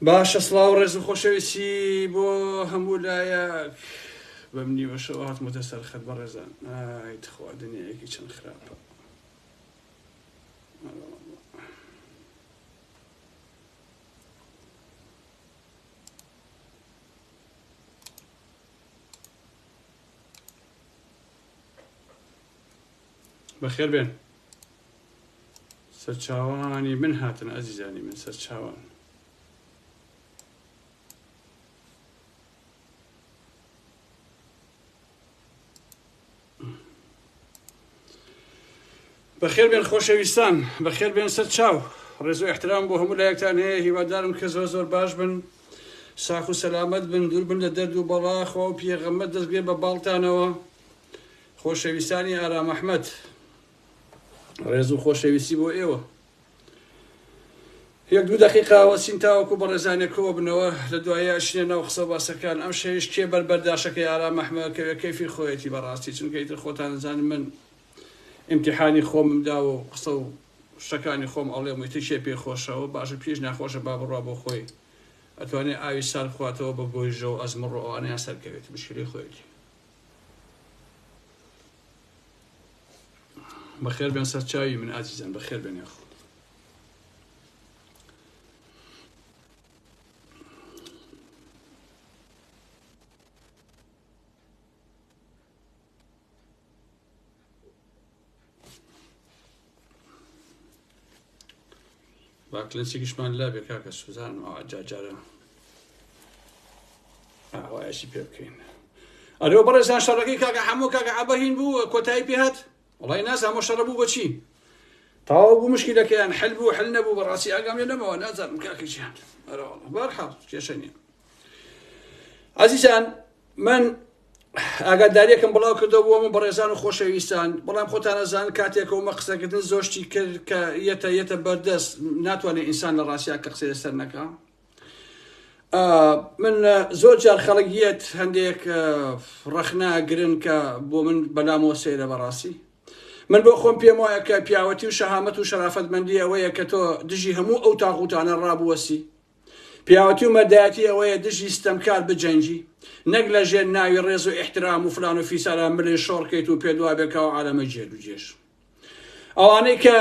باشە سڵاو ڕێز و خۆشەویستی بۆ هەموو لایە بەم نیوەشەوە هاتمەتە سەر خەت بە ڕێزان ئایتخوا دنیایەکی چەند خراپە بەخێر بێن سەرچاوانی من هاتن ئازیزانی من سەرچاوان بەخێربێن خۆشەویستان بەخێربێن سەر چاو ڕێز و احترام بۆ هەموو لایەکتان هەیە هیوادارم کە زۆر زۆر باش بن ساخ و سەلامەت بن دوور بن لە دەرد و بەڵا خوا و پیەغەمبەر دەستگرێ بە باڵتانەوە خۆشەویستانی ئارام ئەحمەد ڕێز و خۆشەویستی بۆ ئێوە یەک دوو دقیقاوە چین تاوەکو بەڕێزانێک کۆ بنەوە لە دوایە ئەشینە ناو قسە باسەکان ئەم شەویش کێ بەربەرداشەکەی ئارام ئەحمەد کەوێ کەیفی خۆیەتی بەڕاستی چونکە ئیتر خۆتان زانن من ئیمتیحانی خۆمم داوە و قسە و شتەکانی خۆم ئەڵێم و ئیتر کێ پێی خۆشە و باشە کێیش ناخۆشە با بڕوا بۆ خۆی ئەتوانێ ئاوی سارد بخواتەوە بە گۆیژە و ئەزمڕ و ئەوانەیان سەر کەوێت مشکلی خۆیەتی بەخێر بێن سەر چاوی من ئازیزان بەخێر بێن یاخۆ با کلنسێکیشمان لابێ کاکە سوزان و جاجارە ئاوایەشی پێ بکەین ئەرێ بەڕێزان شەڕەکەی کاکە هەموو کاکە عبەهین بوو کۆتایی پێهات وڵی ناز هەمە شەڕە بوو بۆچی تاوا بوو مشکلەکەیان حل بوو حل نەبوو بەڕاستی ئاگام لێ نەمەوە نازانم کاکەیان بەرحاڵ کێشە نیە عزیزان من ئاگاداریەکم بڵاو کردەوە بۆ من بەڕێزان و خۆشەویستان بەڵام خۆتانەزان کاتێکەوەمە قسەکردن زۆشتی کرد کە یەتە یەتە بەردەست ناتوانێت ئینسان لە ڕاستیا کە قسە لەسەر نەکە من زۆر جار خەڵکیت هەندێک ڕەخنا گرن کە بۆ من بەلامەوە سەیرە بەڕاستی من بۆ خۆم پێم وایە کە پیاوەتی و شەهامەت و شەرافەتمەندی ئەوەیە کە تۆ دژی هەموو ئەو تاغوتانە ڕابوەسی پیاوەتی و مەردایەتی ئەوەیە دژی ستەمکار بجەنگی نەک لە ژێر ناوی ڕێز و ئیحترام و فلان و فیسارا ملێ شۆڕ کەیت و پێت وابێ کە ئەو عالەمە جێر و جێش ئەوانەی کە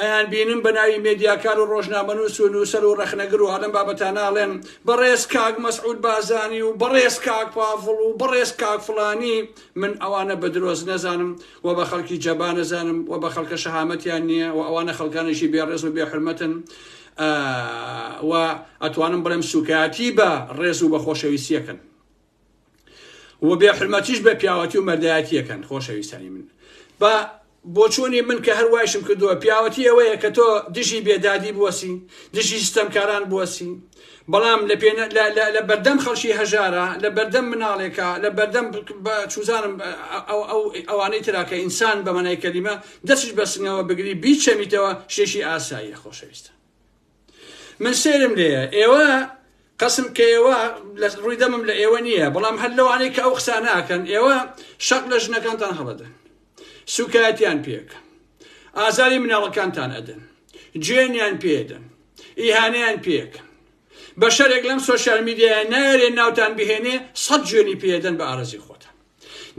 ئەیان بینم بە ناوی مێدیاکار و ڕۆژنامەنووس و نووسەر و ڕەخنەگر و ئەلەم بابەتاناڵێن بەڕێز کاک مەسعود بازانی و بەڕێز کاک پاڤڵ و بەڕێز کاک فلانی من ئەوانە بە درۆز نەزانم و بە خەڵکی جەبانەزانم و بە خەڵکە شەهامەتیان نییە و ئەوانە خەڵکانێکی بێڕێز و بێحرمەتن و ئەتوانم بڵێم سوکایەتی بە ڕێز و بە خۆشەویستیەکەن و بێ حرمەتیش بە پیاوەتی و مەردایەتیەکەن خۆشەویستانی من بە بۆچوونی من کە هەروایشم کردووە پیاوەتی ئەوەیە کە تۆ دژی بێدادی بوەسی دژی سیستەمکاران بوەسی بەڵام لە پێ لە بەردەم خەڵکی هەژارە لە بەردەم مناڵێکە لە بەردەم چوزانم ئەوانەی تراکە ئینسان بە مەنای کەلیمە دەستیش بەسنگەوە بگری بیچەمیتەوە شتێکی ئاساییە خۆشەویستە من سێرم لێە ئێوە قسم کە ئێوە لە ڕووی دەمم لە ئێوە نییە بەڵام هەر لەوانەیە کە ئەو قساناکەن ئێوە شەق لە ژنەکانتان هەڵەدەن سوکایەتیان پێکە ئازاری مناڵەکانتان ئەدەن جوێنیان پێدەن ئیهانیان پێکە بە شەرێک لەم سوۆسیال میدیای نارێ ناوتان بهێنێ سەد جوێنی پێدەن بە ئارزی خۆتان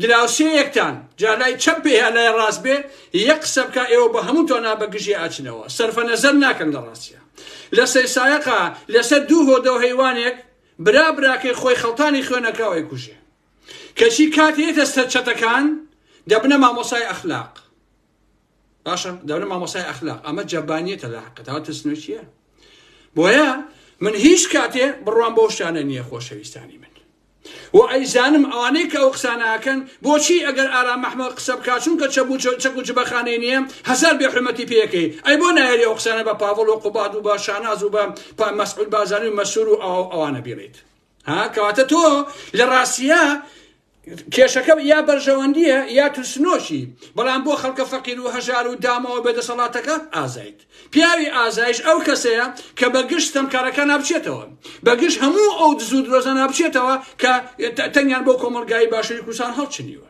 دراوسێیەکتان جا لای چەپ بێ یا لای ڕاست بێ یەک قسە بکا ئێوە بە هەموو توانا بە گژی ئاچنەوە سەرفە نەزەر ناکەن لە ڕاستیە لە سەیسایەقا لەسەر دوو هۆدە و هەیوانێک برا براکەی خۆی خەڵتانی خوێنەکراوەی کوژێ کەچی کاتێتە سەر چەتەکان دەبنە مامۆسای ئەخلاق باشە دەورە مامۆسای ئەخلاق ئەمە جەبانیەتە لە حقت ئەوە ترسنۆکیە بۆیە من هیچ کاتێ بڕوام بۆ شتانە نییە خۆشەویستانی من و ئەیزانم ئەوانەی کە ئەو قسانەکەن بۆچی ئەگەر ئارام محمە قسە بکە چونکە چەک و جبەخانەی نییە هزار بێحرمەتی پێەکەی ئەی بۆ نایری ئەو قسانە بە پاڤڵ و قوباد و بە شاناز و بە پامەسعود بازانوی مەسور و ئەوانە بیڵیت ها کەواتە تۆ لە ڕاستیە کێشەکە یا بەرژەوەندیە یا ترسنۆشی بەڵام بۆ خەڵکە فەقیر و هەژار و دامەوە بە دەسەڵاتەکە ئازایت پیاوی ئازایش ئەو کەسەیە کە بە گشت تەمکارەکە نابچێتەوە بەگشت هەموو ئەو دزود رۆزە نابچێتەوە کە تەنیان بۆ کۆمەلگای باشووری کوردستان هەڵچنیوە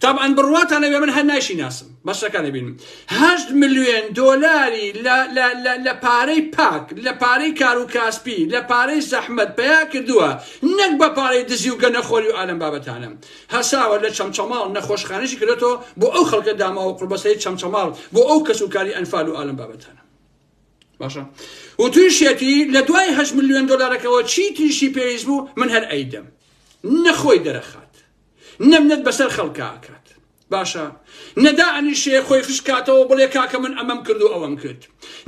تابعەن بڕواتان ئەبێ من هەر نایشی ناسم بەشەکە دەبینم هەشت ملیۆن دۆلاری لە پارەی پاک لە پارەی کار و کاسپی لە پارەی زەحمت پیا کردووە نەک بە پارەی دزی و گەنەخۆری و ئالم بابەتانم هەساوە لە چەمچەماڵ نەخۆشخانەشی کردێتەوە بۆ ئەو خەڵکە داماوە قوربەسەی چەمچەماڵ بۆ ئەو کەس و کاری ئەنفال و ئالم بابەتانە باشە و تویشێتی لە دوای هەشت ملیۆن دۆلارەکەەوە چی تریشی پێویست بوو من هەر ئەیدەم نەخۆی دەرەخات نە منەت بەسەر خەڵکا ئەکات باشە نە دائەنیشێ خۆی خش کاتەوە بڵێ کاکە من ئەمەم کرد و ئەوەم کرد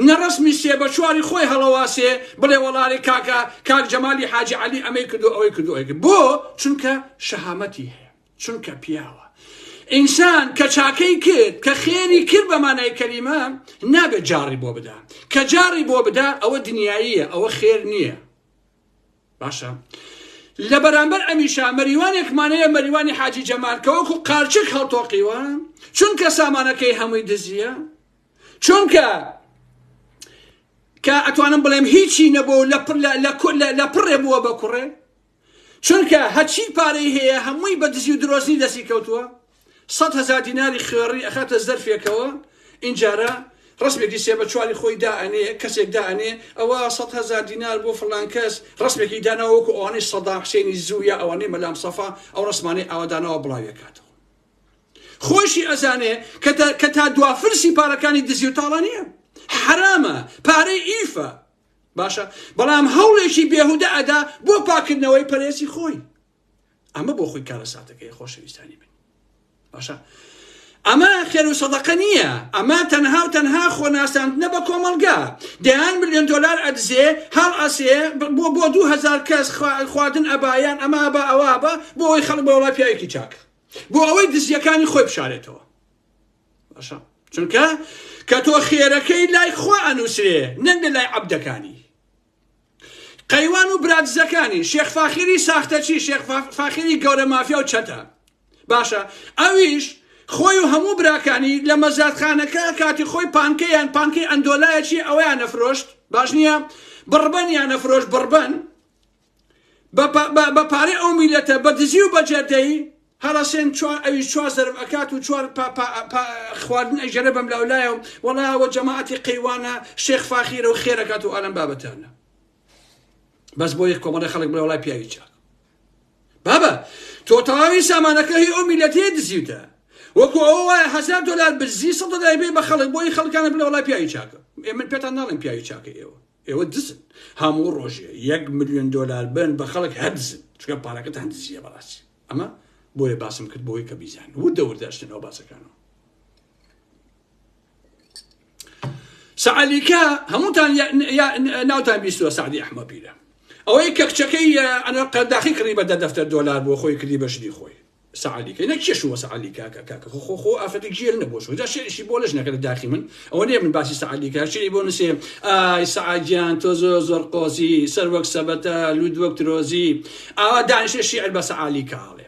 نە ڕسمی سێ بە چواری خۆی هەڵەواسێ بڵێ وەڵارێ کاکە کاک جەمالی حاجی عەلی ئەمەی کرد و ئەوەی کردو ئەوەی کرد بۆ چونکە شەهامەتی هەیە چونکە پیاوە ئینسان کە چاکەی کرد کە خێری کرد بە مانای کەلیمە نابێت جاڕی بۆ بدا کە جاڕی بۆ بدا ئەوە دنیاییە ئەوە خێر نییە باشە لە بەرامبەر ئەمیشا مەریوانێکمان هەیە مەریوانی حاجی جەمال کە وەکو قارچک هەڵتۆقیوە چونکە سامانەکەی هەمووی دزیە چونکە کە ئەتوانم بڵێم هیچی نەبوو لە پڕێ بووە بە کوڕێ چونکە هەچی پارەی هەیە هەمووی بە دزی و درۆزنی دەستی کەوتووە سەد هەزار دیناری خوێڕی ئەخاتە زەرفێکەوە ئینجارە ڕسمێکی سێ بە چواری خۆی دائەنێ کەسێک دائەنێ ئەوە سە هزار دینار بۆ فلان کەس ڕسمێکی داناوەکو ئەوانەی سەدا حسێنی زووە ئەوانەی مەلام سەفا ئەو ڕسمانەی ئاوادانەوە بڵاوێکاتەوە خۆشی ئەزانێ کە تا دوافرسی پارەکانی دزی و تاڵە نییە حرامە پارەی ئیفە باشە بەڵام هەوڵێکی بێهودە ئەدا بۆ پاکردنەوەی پەرێسی خۆی ئەمە بۆ خۆی کارەساتەکەی خۆشەویستانی من باشە ئەمە خێر و سەدەقە نییە ئەمە تەنها و تەنها خۆناساندنە بە کۆمەلگا دەیان ملیۆن دلار ئەدزێ هەڵ ئەسێ بۆ بۆ دوهزار کەس خواردن ئەبایان ئەمە بە ئەوە بە بۆ ئەوی خەڵ بە وڵای پیاوێکی چاک بۆ ئەوەی دزیەکانی خۆی بشارێتەوە باشە چونکە کە تۆ خێرەکەی لای خوا ئەنووسێ نەنگە لای عبدەکانی قەیوان و برادزەکانی شێخ فاخیری ساختەچی شێخ فاخیری گەورە مافیا و چەتە باشە ئەویش خۆی و هەموو براکانی لە مەزادخانەکە کاتی خۆی پانکەیان پانکەی ئەندۆلایەکی ئەویان نەفرۆشت باش نییە بڕبەن یان نەفرۆش بڕبەن بە پارەی ئەو میلەتە بە دزی و بەجێدەی هەڕەسێن چوار ئەویش چوار زەرب ئەکات و چوار پا پا پا خواردن ئەیژەنە بەم لاو لایە و وەڵا ئەوە جەماعەتی قەیوانە شێخ فاخیرە و خێر ئەکات و ئالەم بابەتانە بەس بۆ یەک کۆمەڵی خەڵک بڵێ وەڵای پیاوی چاک بابە تۆ تەواوی سامانەکە هی ئەو میلەتەیە دزیوتە وەکو ئەو وایە هزار دلار بزی سە دلار بێ بە خەڵک بۆی خەڵکانە بلە وڵای پیاوی چاکە ئێ من پێتان ناڵێن پیاوی چاکە ئێوە ئێوە دزن هەموو ڕۆژێ یەک ملیۆن دۆلار بەن بە خەڵک هەر دزن چکە پارەکەتان دزیە بەڕاستی ئەمە بۆیە باسم کرد بۆی کە بیزان وردە وردەشتن ئەو باسەکانەوە سەعالیکە هەمووتان ناوتان بیستوە سعدی ئەحمە پیرە ئەوەی کە کچەکەی ئەنە قەرداخی کڕی بە دە دەفتەر دۆلار بۆ خۆی کردی بەشنی خۆی سەعدی کەی نە کێ شووە سەعدی کاکە کاکە خۆ خۆ خۆ ئافرەتی جێل نە بۆ شوو جا شێریشی بۆ لەش نەکەرە داخی من ئەوە نێ من باسی سەعدی کە شێری بۆ نوسێ ئای سەعدیان تۆ زۆر زۆر قۆزی سەر وەک سەبەتە لود وەک ترۆزی ئاوا دانیشە شیعر بە سەعالی کاڵێ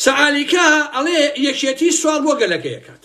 سەعالیکا ئەڵێ یەکێتی سوال بۆ گەلەکەیەکات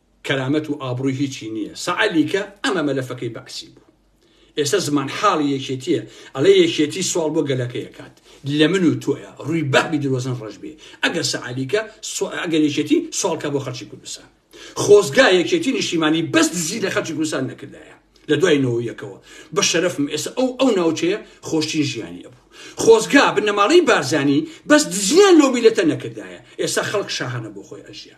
کەرامەت و ئابڕوی هیچی نیە سەعە لیکە ئەمە مەلەفەکەی بەعسی بوو ئێستا زمان حاڵی یەکێتیە ئەڵێ یەکێتی سواڵ بۆ گەلەکەی ئەکات لە من و تۆیە ڕوی بەعبی درۆزن ڕەش بێ ئەگەر سەعە لیکە سوئ ئەگەر یەکێتی سواڵ کا بۆ خەڵکی کوردستان خۆزگا یەکێتی نیشتیمانی بەس دزی لە خەڵکی کوردستان نەکردایە لە دوای نۆ یەکەوە بە شەرەفم ئێستا ئەو ئەو ناوچەیە خۆشترین ژیانی ئەبوو خۆزگا بنەماڵەی بارزانی بەس دزیان لەو میلەتە نەکردایە ئێستا خەڵک شاهانە بۆ خۆی ئەژیا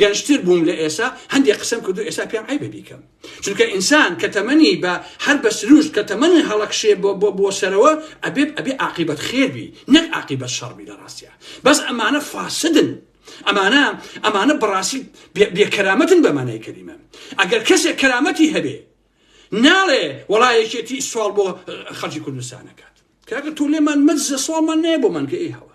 گەنجتر بووم لە ئێسا هەندێ قسەم کردو ئێسا پێم عەیبە بیکەم چونکە ئینسان کە تەمەنی بە هەر بە سروشت کە تەمەنی هەڵەکشێ بۆ بۆ بۆ سەرەوە ئەبێ ئەبێ عاقیبەت خێر بی نەک عاقیبەت شەڕ بی لە ڕاستیا بەس ئەمانە فاسدن ئەمانە ئەمانە بەڕاستی بێ- بێکەرامەتن بە مانای کەلیمە ئەگەر کەسێک کەرامەتی هەبێ ناڵێ وەڵا یەکێتی سوال بۆ اه، خەڵکی کوردستان نەکات کاکە تۆ لێمان مەززە سوالمان نەیە بۆمان کە ئێ هەوە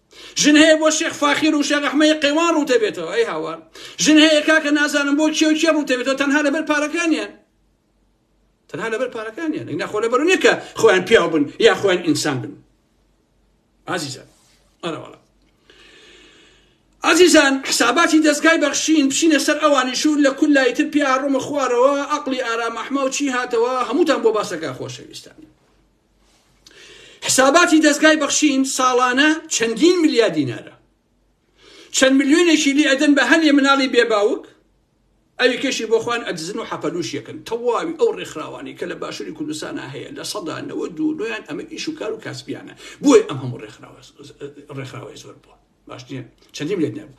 ژن هەیە بۆ شێخ فاخیر و شێخ ئەحمەی قەیوان ڕوتە بێتەوە ئەی هاوار ژن هەیە کاکە نازانم بۆ کێ و کێ ڕوتە بێتەوە تەنها لەبەر پارەکانیان تەنها لەبەر پارەکانیان ئینا خۆ لەبەر نیە کە خۆیان پیاو بن یا خۆیان ئینسان بن ئازیزان ئەرەوەڵە ئازیزان حساباتی دەستگای بەخشین بچینە سەر ئەوانی شوور لە کول لایتر پیاڕۆمە خوارەوە ئەقلی ئارام ئەحمە و چی هاتەوە هەمووتان بۆ باسەکە خۆشەویستان حساباتی دەزگای بەخشین ساڵانە چەندین ملیار دینارە چەند ملیۆنێکی لی ئەدەن بە هەنێ مناڵی بێباوک ئەوی کەشی بۆخواان ئەدزن و حەپەلوشیەکەن تەواوی ئەو ڕێکخراوانی کە لە باشووری کوردستانە هەیە لە سەدانەوە دوو نویان ئەمە ئیش و کار و کاسبیانە بۆی ئەم هەموو ڕێکخراوە ڕێکخراوی زۆر بووە باش نیە چەندیم لێت نەبوو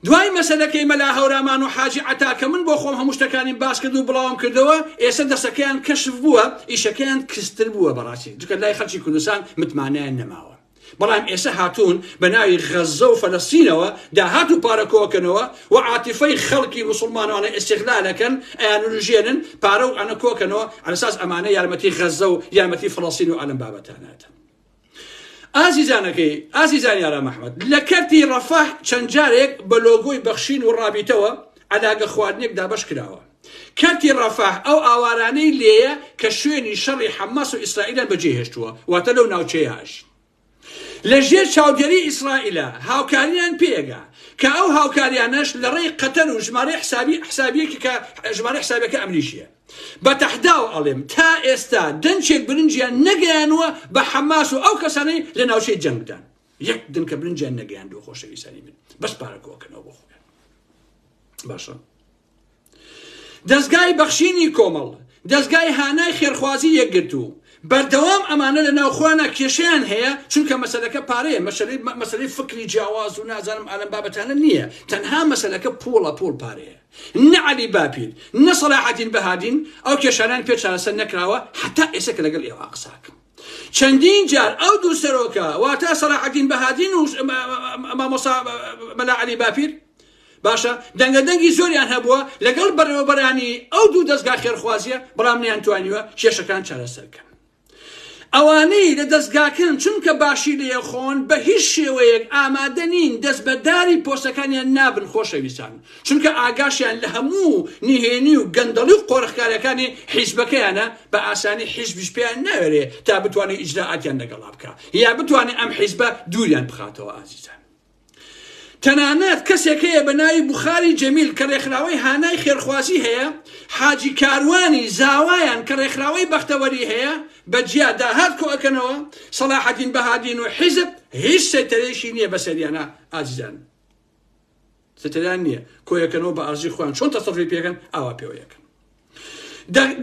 دوای مەسەلەکەی مەلا هەورامان و حاجی عتا کە من بۆ خۆم هەموو شتەکانیم باس کرد و بڵاوم کردەوە ئێستا دەسەکەیان کەشف بووە ئیشەکەیان کستر بووە بەڕاستی جکە لای خەرچی کوردستان متمانیان نەماوە بەڵام ئێستا هاتوون بە ناوی غەزە و فەلەستینەوە داهات و پارەکۆکەنەوە و عاتیفەی خەڵکی مسلمانانە ئێسیغلالەکەن ئەیانژێنن پارە و ئەنە کۆکەنەوە ئەساس ئەمانە یارمەتی غەزە و یارمەتی فلەستین و ئالم بابەتانەتە ئازیزانەکەی ئازیزانی ئارام ئەحمەد لە کەرتی ڕەفاح چەند جارێک بە لۆگۆی بەخشین و ڕابیتەوە علاگە خواردنێک دابش کراوە کەرتی ڕەفاح ئەو ئاوارانەی لێیە کە شوێنی شەڕی حەماس و ئیسرائیلان بەجێهێشتووە واتە لەو ناوچەیەش لە ژێر چاودێری ئیسرائیلە هاوکاریان پێگا کە ئەو هاوکاریانەش لە ڕێی قەتەر و ژمارە حسابی حسابیەکی کە ژمارە حسابەکە ئەمریکیە بە تەحداوە ئەڵێم تا ئێستا دەنکێک برنجیان نەگەیانووە بە حەماس و ئەو کەسانەی لە ناوچەی جەنگدان یەک دنکە برنجیان نەگەیاندووە خۆشەویستانی من بەس پارەکۆکەنەوە بۆ خۆیان باشە دەستگای بەخشینی کۆمەڵ دەستگای هانای خێرخوازی یەکگرتوو بەردەوام ئەمانە لە ناوخوانا کێشیان هەیە چونکە مەسلەکە پارەیە مەسلەی مەسلەی فکری جیاواز و نازانم ئالم بابەتانە نییە تەنها مەسلەکە پوڵە پوڵ پارەیە نە عەلی باپیر، نە سەلاحەدین بەهادین، ئەو کێشانەیان پێ چارەسەر نەکراوە هەتا ئێستا کە لەگەڵ ئێوە قسە ئەکەم. چەندین جار ئەو دوو سەرۆکە، واتە سەلاحەدین بەهادین و مامۆستا مەلا عەلی باپیر، باشە دەنگەدەنگی زۆریان هەبووە لەگەڵ بەڕێوەبەرانی ئەو دوو دەزگا خێرخوازییە، بەڵام نەیانتوانیوە کێشەکان چارەسەر بکەن. ئەوانەی لە دەزگاکەن چونکە باشی لێخۆن بە هیچ شێوەیەک ئامادە نین دەست بە داری پۆستەکانیان نابن خۆشەویستان چونکە ئاگاشیان لە هەموو نهێنی و گەندەڵی و قۆرخکاریەکانی حیزبەکەیانە بە ئاسانی حیزبیش پێیان ناوێرێ تا بتوانێ ئیجرائاتیان لەگەڵا بکا یا بتوانێ ئەم حیزبە دووریان بخاتەوە ئازیزان تەنانەت کەسێک هەیە بە ناوی بوخاری جەمیل کە ڕێکخراوەی هانای خێرخوازی هەیە، حاجی کاروانی زاوایان کە ڕێکخراوەی بەختەوەری هەیە، بە جیا داهات کۆ ئەکەنەوە، سەڵاحەدین بەهادین و حیزب هیچ سەیتەرەیەکی نیە بەسەریانا ئازیزان سەیتەرەیان نیە کۆیەکەنەوە بە ئەرزی خۆیان چۆن تەسەروفی پێکەن ئاوا پێوەیەکەن.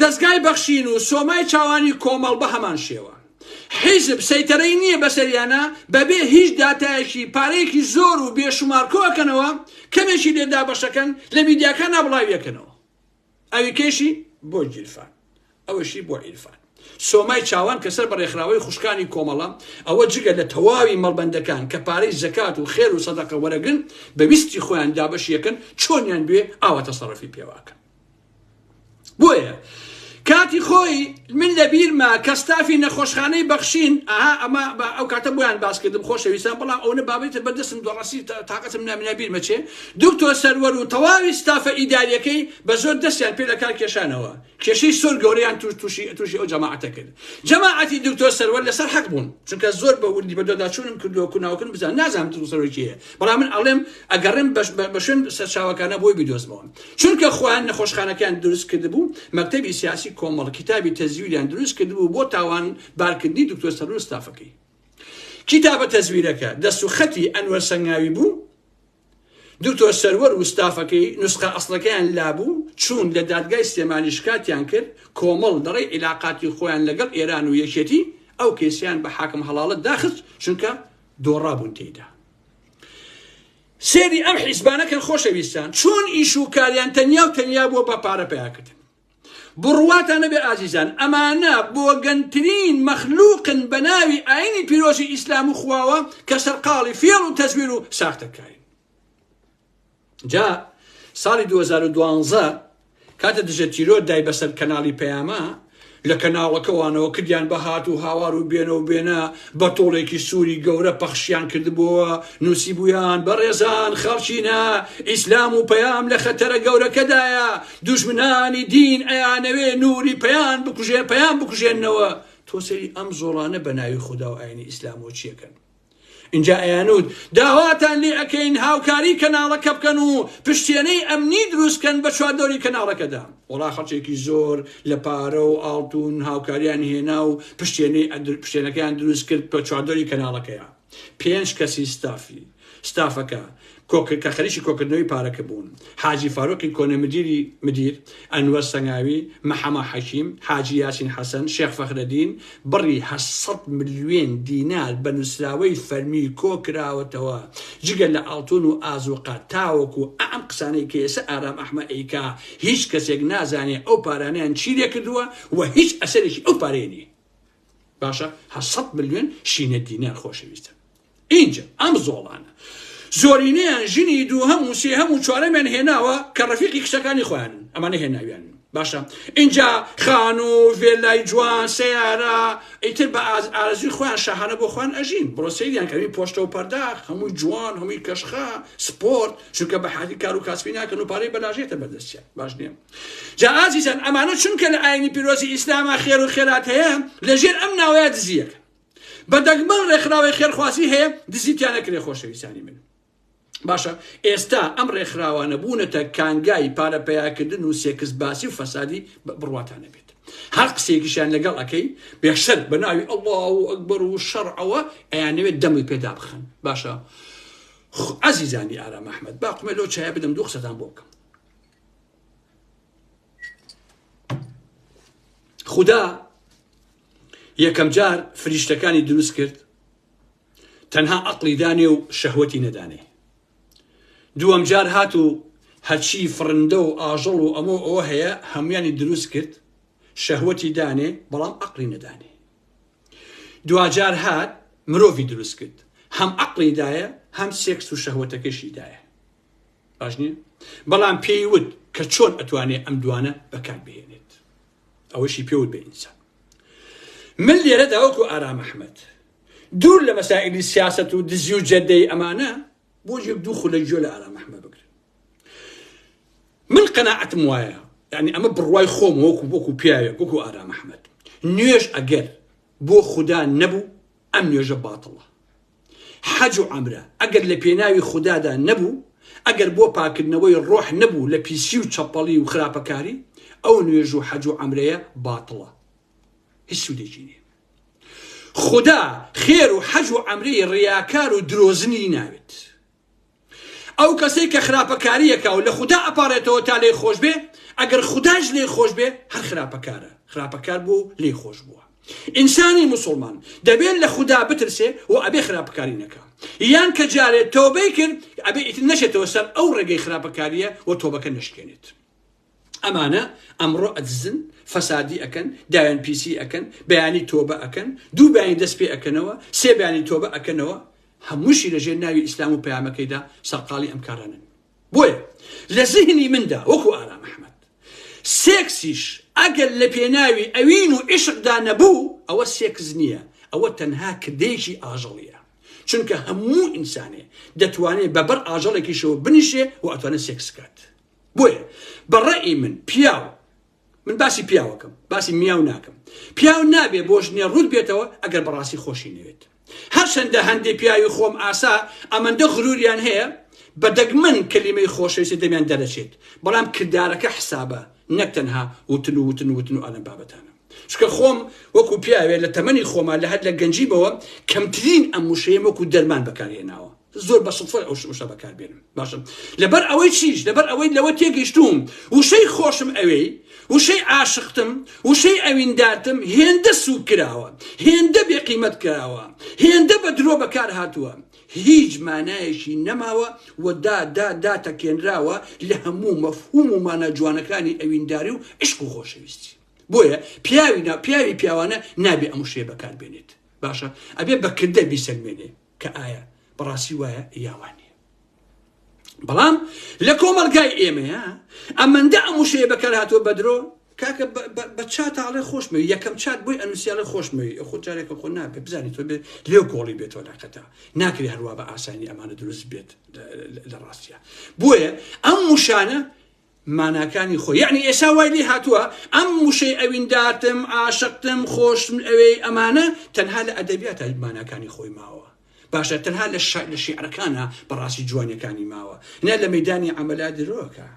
دەزگای بەخشین و سۆمای چاوانی کۆمەڵ بە هەمان شێوە حیزب سەیتەرەی نییە بەسەریانە بەبێ هیچ داتایەکی پارەیەکی زۆر و بێشومار کۆکەنەوە کەمێکی لێ دابەشەکەن لە میدیاکان نابڵاویەکەنەوە ئەوی کەشی بۆ گیرفان ئەوەشی بۆ عیرفان سۆمای چاوان کە سەر بە ڕێکخراوەی خوشکانی کۆمەڵە ئەوە جگە لە تەواوی مەڵبەندەکان کە پارەی زەکات و خێر و سەدەقە وەرەگرن بەویستی خۆیان دابەشیەکەن چۆنیان بێ ئاوە تەسەڕفی پێواکەن بۆیە کاتی خۆی من لە بیرمە کە ستافی نەخۆشخانەی بەخشین ئەها ئەمە ئەو کاتە بۆیان باسکردم خۆشەویستان بەڵام ئەوە بابێتە بەردەستم دۆڕەسی تااقەتم نامنا بیرمە چێ دکتۆر سەروەر و تەواوی ستافە ئیداریەکەی بە زۆر دەستیان پێ لە کار کێشانەوە کێشەی سۆر گەوریان توش تووشی تووشی ئەو جەماعەتە کرد جەماعەتی دکتۆر سەروەر لەسەر حەق بوون چونکە زۆر بە وردی بەدۆداچوونم کردووە کوناوکن بزان نازانم سەرۆکیە بەڵام من ئەڵێم ئەگەڕێم بە شوێن سەرچاوەکانە بۆی بیدۆزمەوە چونکە خۆیان نەخۆشخانەکەیان دروست کردبوو مەکتتەبی سیاسی کۆمەڵ کتابی تەزویریان دروست کردبوو بۆ تاوان بارکردنی دکتۆر سەرور ستافەکەی کتابە تەزویرەکە دەست و خەتی ئەنوەر سەنگاوی بوو دکتۆر سەروەر و ستافەکەی نوسخە ئەسڵەکەیان لابوو چوون لە دادگای سلێمانی شکاتیان کرد کۆمەڵ دەڕێ عیلااقاتی خۆیان لەگەڵ ئێران و یەکێتی ئەو کەسیان بە حاکم هەڵاڵت داخست چونکە دۆڕابوون تێیدا. سێری ئەم حیزبانە کەن خۆشەویستان چۆن ئیش و کاریان تەنیا و تەنیا بووە بە پارە پیاکردن بڕواتان نەبێ ئازیزان ئەمانە بۆ گەنترین مەخلوقن بە ناوی ئاینی پیرۆزی ئیسلام و خواوە کە سەرقاڵی فێڵ و تەزویر و ساختەکاری جا ساڵی 2012 کاتە دژە تیرۆر دای بەسەر کەناڵی پەیامە لە کەناڵەکەوانەوە کردیان بە هات و هاوار و بێنە و بێنە بە تۆڵێکی سووری گەورە پەخشیان کردبووە نووسی بوویان بە ڕێزان خەڵچینە ئیسلام و پەیام لە خەتەرە گەورەکەدایە دوژمنانی دین ئەیانەوێ نوری پەیان بکوژێ پەیان بکوژێنەوە تۆ سەری ئەم زۆڵانە بە ناوی خوددا و ئاینی ئیسلام و چیەکەن ئینجا ئەیانوت داواتان لێ ئەکەین هاوکاری کەناڵەکە بکەن و پشتێنەی ئەمنی دروستکەن بە چواردەوری کەناڵەکەدا وەڵا خەڵکێکی زۆر لە پارە و ئاڵتون هاوکاریان هێنا و پشتێنەی ئەدر پشتێنەکەیان دروست کرد بە چواردەوری کەناڵەکەیە پێنج کەسی ستافی ستافەکە کە خەریکی کۆکردنەوەی پارەکە بوون، حاجی فاروقی کۆنە مدیری مدیر، ئەنوەر سەنگاوی، مەحەمە حەکیم، حاجی یاسین حەسەن، شێخ فەخرەدین، بڕی هەشت سەد ملیۆن دینار بە نووسراوەی فەرمی کۆکراوەتەوە، جگە لە ئاڵتوون و ئازووقە، تاوەکو ئەم قسانەی کە ئێستا ئارام ئەحمە ئەیکا، هیچ کەسێک نازانێ ئەو پارانەیان چی لێ کردووە و هیچ ئەسەرێکی ئەو پارەیە نییە. باشە هەشت سەد ملیۆن شینە دینار خۆشەویستن. ئینجا ئەم زۆڵانە زۆرینەیان ژنی دووهەم و سێهەم و چوارەمیان هێناوە کە ڕەفیقی کچەکانی خۆیانن ئەمانە هێناویان باشە ئینجا خان و ڤێلای جوان سیارە ئیتر بە ئارزوی خۆیان شەهانە بۆ خوان ئەژین بڕۆ سەیریان کەوی پۆشتە و پەرداخ هەمووی جوان هەمووی کەشخە سپۆرت چونکە بە حادی کار و کاسبی ناکەن و پارەی بەلاژێتە بەدەستیان باش نیە جا ئازیزان ئەمانە چونکە لە ئاینی پیرۆزی ئیسلامە خێر و خێرات هەیە لەژێر ئەم ناوەیە دزیەکە بە دەگمەن ڕێکخراوەی خێرخوازی هەیە دزی تیا نەکرێ خۆشەویستانی من باشە ئێستا ئەم ڕێکخراوانە بوونەتە کانگای پارە پیاکردن و سێکس باسی و فەسادی بڕواتانە بێت هەر قسێکیشیان لەگەڵ ئەەکەی بێشەر بە ناوی ئەڵڵا و ئەکبەر و شەڕەوە ئەیانەوێت دەمی پێدا بخەن باشە ئازیزانی ئارا مححمد باقمە لۆ چای بدەم دوو قسەدان بۆ بکەم خدا یەکەمجار فریشتەکانی دروست کرد تەنها ئەقلی دانێ و شەهوەتی نەدانێ دووەم جار هات و هەرچی فرندە و ئاژەڵ و ئەمە ئەوە هەیە هەمویانی دروست کرد شەهوەتی دانێ بەڵام ئەقلی نەدانێ دواجار هات مرۆڤی دروست کرد هەم ئەقلی دایە هەم سێکس و شەهوەتەکەشی دایە باش نیە بەڵام پێی وت کە چۆن ئەتوانێ ئەم دوانە بەکار بهێنێت ئەوەشی پێوت بە ئینسان من لێرەدا وەکو ئارام ئەحمەد دوور لە مەسائلی سیاست و دزی و جەدەی ئەمانە بۆ یەک دوو خولە گوێ لە ئارام ئەحمەد بگرن من قەناعەتم وایە یعنی ئەمە بڕوای خۆم وەکو وەکو پیاوێک وەکو ئارام ئەحمەد نوێش ئەگەر بۆ خوددا نەبوو ئەم نوێژە باتڵە حەج و عەمرە ئەگەر لە پێناوی خودادا نەبوو، ئەگەر بۆ پاککردنەوەی ڕۆح نەبوو لە پیسی و چەپەڵی و خراپەکاری، ئەو نوێژ و حەج و عەمرەیە باتڵە، هیچ سوودێکی نییە. خودا خێر و حەج و عەمرەی ڕیاکار و درۆزنی ناوێت. ئەو کەسەی کە خراپەکاریەکا و لە خودا ئەپاڕێتەوە تا لێی خۆش بێ ئەگەر خوداش لێی خۆش بێ هەر خراپەکارە خراپەکار بوو لێی خۆش بووە ئینسانی مسلمان دەبێت لە خودا بترسێ و ئەبێ خراپەکاری نەکە یان کە جارێت تۆبەی کرد ئەبێ ئیتر نەشێتەوە سەر ئەو ڕێگەی خراپەکاریە و تۆبەکە نشکێنێت ئەمانە ئەمڕۆ ئەدزن فەسادی ئەکەن داوێن پیسی ئەکەن بەیانی تۆبە ئەکەن دوو بەیانی دەست پێ ئەکەنەوە سێ بەیانی تۆبە ئەکەنەوە هەمووشی لەژێر ناوی ئیسلام و پەیامەکەیدا سەرقاڵی ئەم کارانن بۆیە لە زهنی مندا وەکو ئارام ئەحمد سێکسیش ئەگەر لە پێناوی ئەوین و عشقدا نەبوو ئەوە سێکس نییە ئەوە تەنها کردەیەکی ئاژەڵیە چونکە هەموو ئینسانێ دەتوانێت بەبەر ئاژەڵێکیشەوە بنیشێ و ئەتوانێت سێکسکات بۆیە بە ڕەئی من پیاو من باسی پیاوەکەم باسی میاو ناکەم پیاو نابێ بۆ ژنێ ڕوود بێتەوە ئەگەر بەڕاستی خۆشی نەوێت هەرچەندە هەندێ پیاوی خۆم ئاسا ئەمەندە غروریان هەیە بە دەگمەن کەلیمەی خۆشەویستی دەمیان دەرەچێت بەڵام کردارەکە حسابە نەک تەنها وتن و وتن وتن و ئەلەم بابەتانە چکە خۆم وەکو پیاوێ لە تەمەنی خۆمان لە هەر لە گەنجیمەوە کەمترین ئەم وشەیە وەکو دەرمان بەکارهێناوە زۆر بە سوتفەی ئەو وشە بەکار بێنم باشم لەبەر ئەوەی چیش لەبەر ئەوەی لەوە تێگەشتوم وشەی خۆشم ئەوێی وشەی عاشقتم وشەی ئەویندارتم هێندە سوک کراوە هێندە بێ قیمەت کراوە هێندە بە درۆ بەکار هاتووە هیچ مانایەکی نەماوە و دا دا دا تەکێنراوە لە هەموو مەفهوم و مانە جوانەکانی ئەوینداری و عشق و خۆشەویستی بۆیە پیاوی نا پیاوی پیاوانە نابێ ئەم شێ بەکار بێنێت باشە ئەبێ بەکردە بیسەلمێنێ کە ئایا بەڕاستی وایە یاوان نیە بەڵام لە کۆمەلگای ئێمەیە ئەمەندە ئەم وشەیە بەکار هاتووە بەدرۆ کاکە بە چاتاڵێ خۆشمەوی یەکەم چات بۆی ئەنووسیاڵە خۆشمەوی خۆ جارێکە خۆ نابێت بزانانی تۆ بێت لێو کۆڵی بێتەوە لاقەتا ناکری هەروە بە ئاسانی ئەمانە دروست بێت لە ڕاستە بۆیە ئەم وشانە ماناکانی خۆی یەعنی ئێسا وای لێ هاتووە ئەم وشەی ئەویندارتم، عاشقتم، خۆشتم ئەوێی ئەمانە تەنها لە ئەدەبیاتا ماناکانی خۆی ماوە باشە تەنها لە شا لە شیعرەکانا بەڕاستی جوانیەکانی ماوە نە لە مەیدانی عەمەلا درۆکە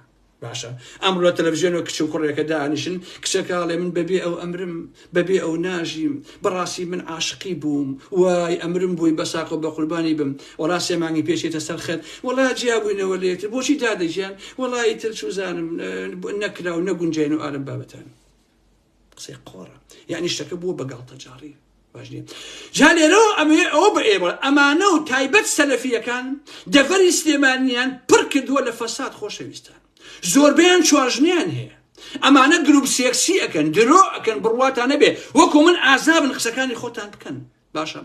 باشە ئەمڕۆ لە تەلەڤزیۆنەوە کچ و کوڕێکە دانیشن کچەکە ئەڵێ من بەبێ ئەو ئەمرم بەبێ ئەو ناژیم بەڕاستی من عاشقی بووم وای ئەمرم بۆی بەساقە و بەقوربانی بم وەڵا سێ مانگی پێش چێتە سەر خەت وەڵا جیابووینەوە لە یەکتر بۆچی دادە گیان وەڵا ئیتر چوزانم نەکرا و نەگونجاین و ئالم بابەتان قسەی قۆڕە یعنی شتەکە بووە بە گاڵتەجاڕی باش نیە جا لێرەوە ئەمەیە ئەوە بە ئێوە ئەمانە و تایبەت سەلەفیەکان دەڤەری سلێمانیان پڕ کردووە لە فەساد خۆشەویستان زۆربیان چواژنیان هەیە ئەمانە گروپ سێکسی ئەکەن درۆ ئەکەن بڕواتان نەبێ وەکو من ئازابن قسەکانی خۆتان بکەن باشە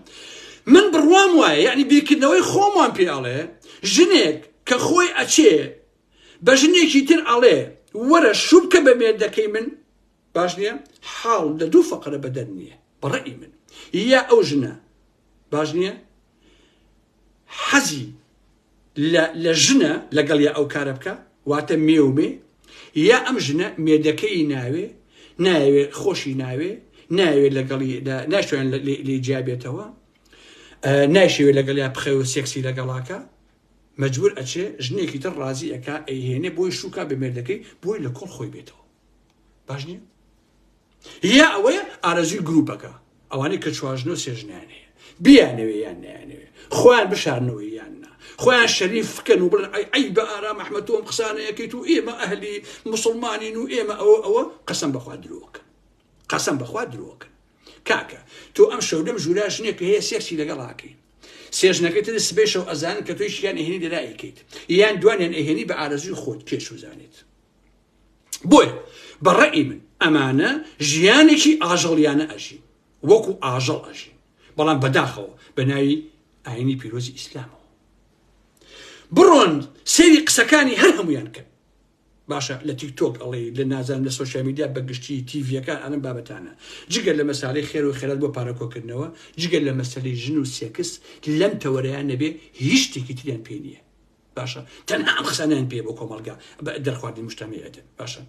من بڕوام وایە یعنی بیرکردنەوەی خۆمان پێڵێ ژنێک کە خۆی ئەچێ بە ژنێکی تر ئەڵێ وەرە شوبکە بە مێردەکەی من باش نییە حاڵ لە دوو فەقرە بەدەر نییە بەڕێی من یا ئەو ژنە باش نییە حەزی لە ژنە لەگەڵ یا ئەو کارە بکە واتە مێومێ یا ئەم ژنە مێدەکەی ناوێ ناوێ خۆشی ناوێ ناوێ لەگەڵی ناشوێن لێ جیابێتەوە ناشوێ لەگەڵ یا بخەوە سێکسی لەگەڵاکە مجبور ئەچێ ژنێکی تر ڕازی ئەک ئەیهێنێ بۆی شوکە بە مێردەکەی بۆی لە کۆڵ خۆی بێتەوە باش نیە هییا ئەوەیە ئارەزووی گروپەکە، ئەوانەی کە چوارژنە و سێژنەیان هەیە، بیانەوێ یان نەیانەوێ، خۆیان بشارنەوە یان نا، خۆیان شەریف بکەن و بڵێن ئەی عەیبە ئارام ئەحمەد تۆ ئەم قسانە ئەکەیت و ئێمە ئەهلی موسڵمانین و ئێمە ئەوە ئەوە، قەسەم بەخوا درۆکەن، قەسەم بەخوا درۆکەن. کاکە تۆ ئەم شەو لەم ژوورا ژنێک هەیە سێکسی لەگەڵ ئاکەی سێژنەکەی تر سبەی شەو ئەزانن کە تۆی شیان ئەهێنی لەلا ئەیکەیت یان دوانیان ئەهێنی بە ئارەزوی خۆت کێ چوزانێت بۆیە بە ڕەئی من ئەمانە ژیانێکی ئاژەڵیانە ئەژین وەکو ئاژەڵ ئەژین بەڵام بەداخەوە بە ناوی ئاینی پیرۆزی ئیسلامەوە بڕۆن سێری قسەکانی هەر هەمویان کرد باشە لە تیکتۆک ئەڵێ لە نازانم لە سوۆسیال میدیا بەگشتی تیڤەکان ئەم بابەتانە جگە لە مەسالی خێر و خێرات بۆ پارەکۆکردنەوە جگە لە مەسلی ژن و سێکس لەم تەوەرەیان نەبێ هیچ شتێکی تریان پێ نییە باشە تەنها ئەم قسانیان پێ بۆ کۆمەلگا دەرخواردی مشتەمەیەتن باشە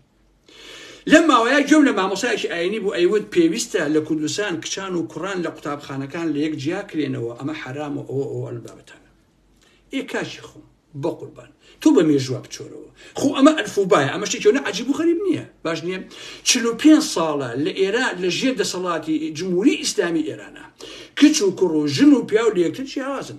لەم ماوەیە گوێم لە مامۆسایەکی ئاینی بوو ئەیوت پێویستە لە کوردستان کچان و کوڕان لە قوتابخانەکان لە یەک جیا کرێنەوە ئەمە حرام و ئەوە ئەو ئەلم بابەتانە ئێ کاکی خۆم بە قوربان تۆ بە مێژوە بچۆرەوە خۆ ئەمە ئەلفوبایە ئەمە شتێکەوە عجیب و غەریب نییە باش نییە چ پێ ساڵە لە ئێرا لە ژێر دەسەڵاتی جمهوری ئیسلامی ئێرانە کچ و کوڕ و ژن و پیاو لەکتر جیاوازن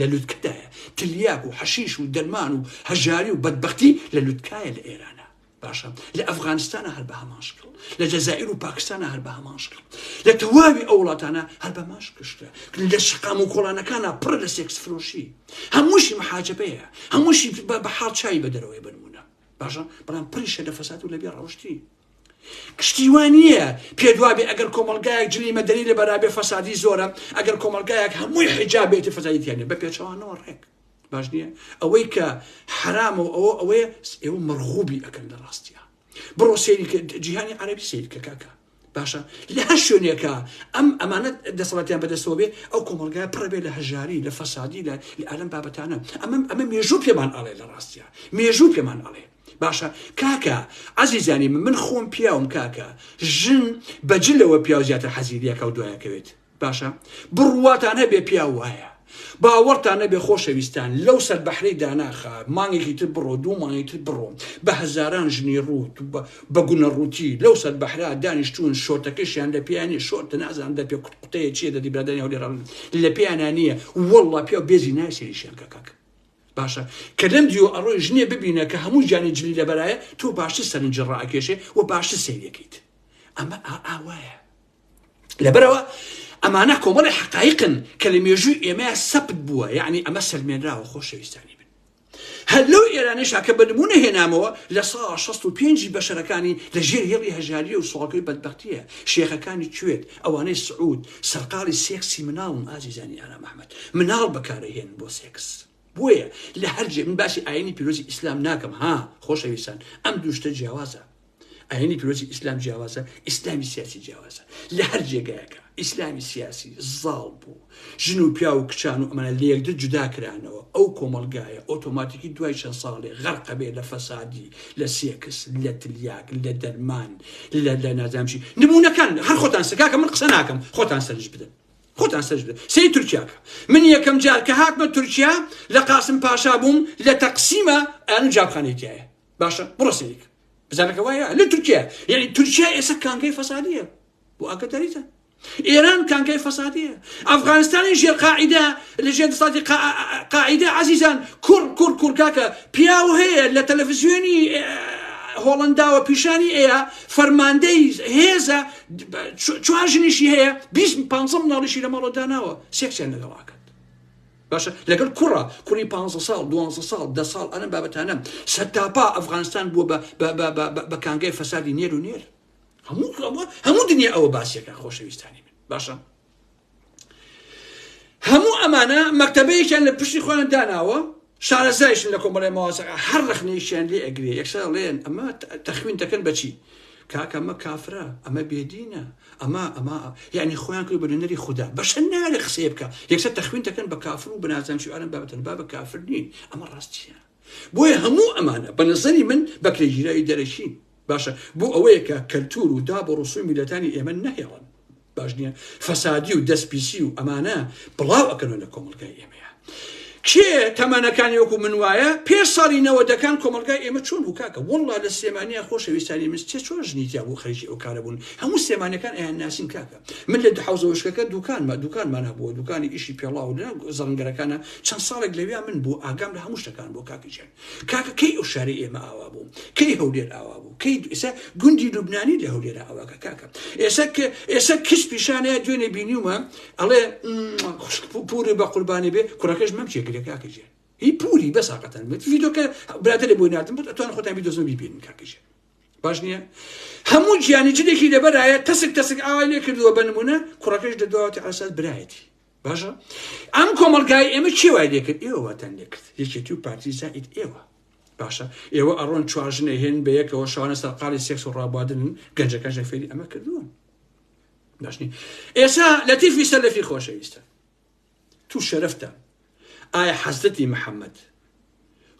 لە لوتکەدایە تلیاک و حەشیش و دەرمان و هەژاری و بەدبەختی لە لوتکایە لە ئێرانە باشە لە ئەفغانستانە هەر بە هەمان شکڵ لە جەزائیر و پاکستانە هەر بە هەمان شکڵ لە تەواوی ئەو وڵاتانە هەر بە ماش گشتە لە شقام و کۆڵانەکانە پڕ لە سێکس فرۆشی هەمووشی محاجبەیە هەمووشی بە حاڵ چاوی بە دەرەوەی بنمونە باشە بەڵام پڕیشە لە فەساد و لە بێ ڕەوشتی شتی وا نییە پێت وا بێ ئەگەر کۆمەڵگایەک جلی مەدەنی لە بەرابێ فەسادی زۆرە ئەگەر کۆمەڵگایەک هەمووی حیجاب بێتی فەسادی تیانە بە پێچەوانەوە ڕێک باش نییە ئەوەی کە حرامە و ئەوە ئەوەیە ئێوە مەرغوبی ئەکەن لە ڕاستیە بڕۆ سێری جیهانی عەربی سیر کە کاکە باشە لە هەر شوێنێکە ئەم ئەمانەت دەسەڵاتیان بەدەستەوە بێ ئەو کۆمەلگای پڕبێ لە هەژاری لە فەسادی لە لە ئەلم بابەتانە ئەمەم ئەمە مێژوو پێمان ئەڵێ لە ڕاستە مێژوو پێمان ئەڵێ باشە کاکە عەزیزانی من من خۆم پیاوم کاکە ژن بە جلەوە پیاو زیاتر حەزی لە یەکاو دوایەکەوێت باشە بڕواتان هەبێ پیاو وایە باوەڕتان نەبێ خۆشەویستان لەو سەر بەحری داناخە مانگێکی تر بڕۆ دوو مانگی تر بڕۆ بە هەزاران ژنی ڕووت بە گونە ڕووتی لەو سەر بەحرا دانیشتون شۆرتەکەشیان لە پێیانی شۆرتە نازان دە پێ قوتقوتەیە چیە دەدی برادانی هەولێران لە پێیانە نییە وەڵڵا پێ بێزی نایسێریشیان کە کاکە باشە کە لەم دیۆ ئەڕۆی ژنێ ببینە کە هەموو گیانی جلی لەبەرایە تۆ باشتر سەرنجی ڕاکێشێ و باشتر سەیرەکەیت ئەمە ئا ئاوایە لەبەرەوە ئەمانە کۆمەڵی حقایقن کە لە مێژووی ئێمە سەپت بووە یعنی ئەمە سەلمێنراوە خۆشەویستانی بن هەر لەو ئێرانیشا کە بەنمونە هێنامەوە لە سا 16 پێنجی بەشەرەکانی لە ژێر هێڵی هەژاریە و سوڵکەی بەدبختیە شێخەکانی کوێت ئەوانەی سعود سەرقاڵی سێکسی مناڵن ئازیزانی ئارام ئەحمەد مناڵ بەکارەهێن بۆ سێکس بۆیە لە هەرجێ من باسی ئاینی پیرۆزی ئیسلام ناکەم ها خۆشەویستان ئەم دوشتە جیاوازە ئاینی پیرۆزی ئیسلام جیاوازە ئیسلامی سیاسی جیاوازە لە هەر جێگایەکە ئیسلامی سیاسی زاڵ بوو ژن و پیاو و کچان و ئەمانە لەیەکدر جودا کرانەوە، ئەو کۆمەڵگایە ئۆتۆماتیکی دوای چەند ساڵێ غەرق ئەبێ لە فەسادی، لە سێکس، لە تلیاک، لە دەرمان، لە لە نازانم چی، نمونەکان هەر خۆتان سە کاکە من قسە ناکەم خۆتان سەرنج بدەن. خۆتان سەرنج بدەن سەیری تورکیا کە من یەکەم جار کە هاتمە تورکیا لە قاسم پاشا بووم لە تەقسیمە ئەنو جابخانەی تایە باشە بڕۆ سەیری کە بزانەکە وایە لە تورکیا یعنی تورکیا ئێستا کانگەی فەسادیە بۆ ئاگداریتە ئێران کانگای فەسادیە ئەفغانستانی ژێر قاعیدە لە ژێر دەسەڵاتی قا- ئا- ئا- قاعیدە عەزیزان کوڕ کوڕ کوڕ کاکە پیاو هەیە لە تەلەڤزیۆنی ئێ، هۆڵنداوە پیشانی ئەیە فەرماندەی هێزە ب- چ- چوار ژنیشی هەیە 20 15 مناڵیشی لە ماڵەوە داناوە سێکسیان لەگەڵاکەن باشە لەگەڵ کوڕە کوڕی 15 ساڵ 12 ساڵ دە ساڵ ئەم بابەتانە سەرتاپا ئەفغانستان بووە بە بە بە بە بە کانگای فەسادی نێر و نێر هەموو کڵەوە هەموو دنیا ئەوە باسیەکە خۆشەویستانی من باشە هەموو ئەمانە مەکتتەبەیەکیان لە پشتی خۆیان داناوە شارەزایشن لە کۆمەڵی ماواسەکە هەر ڕخنەیشیان لێ ئەگرێ یەکسە ڵێن ئەمە تەخوین دەکەن بەچی کاکەمە کافرە ئەمە بێدینە ئەمە ئەمە یعنی خۆیان کرد بە نوێنەری خوددا بەشە نارە قسەیە بکە یەکسە تەخوین دەکەن بە کافر و بنازان شوارن بابەتن با بە کافر نین ئەمە ڕاستیان بۆیە هەموو ئەمانە بە نەزەری من بەکرێگیراوی دەرەکین. باشە بۆ ئەوەیە کە کەلتوور و داب و ڕسووی میللەتانی ئێمە نەهێڵن. باش نییە؟ فەسادی و دەست پیسی و ئەمانە بڵاو ئەکەنەوە لە کۆمەڵگای ئێمەیە. کێ تەمەنەکانی وەکو من وایە پێش ساڵی نەوەدەکان کۆمەلگای ئێمە چۆن بوو کاکە وەڵڵا لە سلێمانیە خۆشەویستانی من سێ چوار ژنی تیا بوو خەریکی ئەو کارە بوون هەموو سلێمانیەکان ئەیان ناسین کاکە من لە دوحەوزەوشکەکە دوکانمە دوکانمان هەبووە دوکانی ئیشی پێڵاو لە زەڕنگەرەکانە چەند ساڵێک لەویا من بوو ئاگام لە هەموو شتەکان بۆ کاکیژێن کاکە کەی ئەو شاری ئێمە ئاوا بوو کەی هەولێر ئاوا بوو کەی ئێسا گوندی لوبنانی لە هەولێرە ئەوەکە کاکە ئێسا کە ئێسا کچ پیشانەیە دوێنێ بینیومە ئەڵێ خوشک پوری بە قوربانی بێ کوڕەکەش مەم چێگرێ کاکیژێن هی پوری بەساقەتەن بێت ڤیدۆکە برادێ بۆی ناتم بێت ئەتوان خۆتان بی دۆزم بیبینن کاکیژێن باش نییە هەموو گیانی جنێکی لەبەرایە تەسک تەسک ئاوای لێ کردووە بە نمونە کوڕەکەش دەدواوەتی ئاسات برایەتی باشە ئەم کۆمەلگای ئێمە کێوای لێکرد ئێوەتان لێکرد یەکێتی و پارتی زائیت ئێوە باشە ئێوە ئەڕۆن چواژنە هێن بە یەکەوە شانە سەرقالی سێکس و ڕابادن گەنجەکە ژەفێری ئەمە کردووە باشنی ئێسا لەتیفی سەلەفی خۆشەویستە تو شەرەفتە ئایا حەزرەتی محمد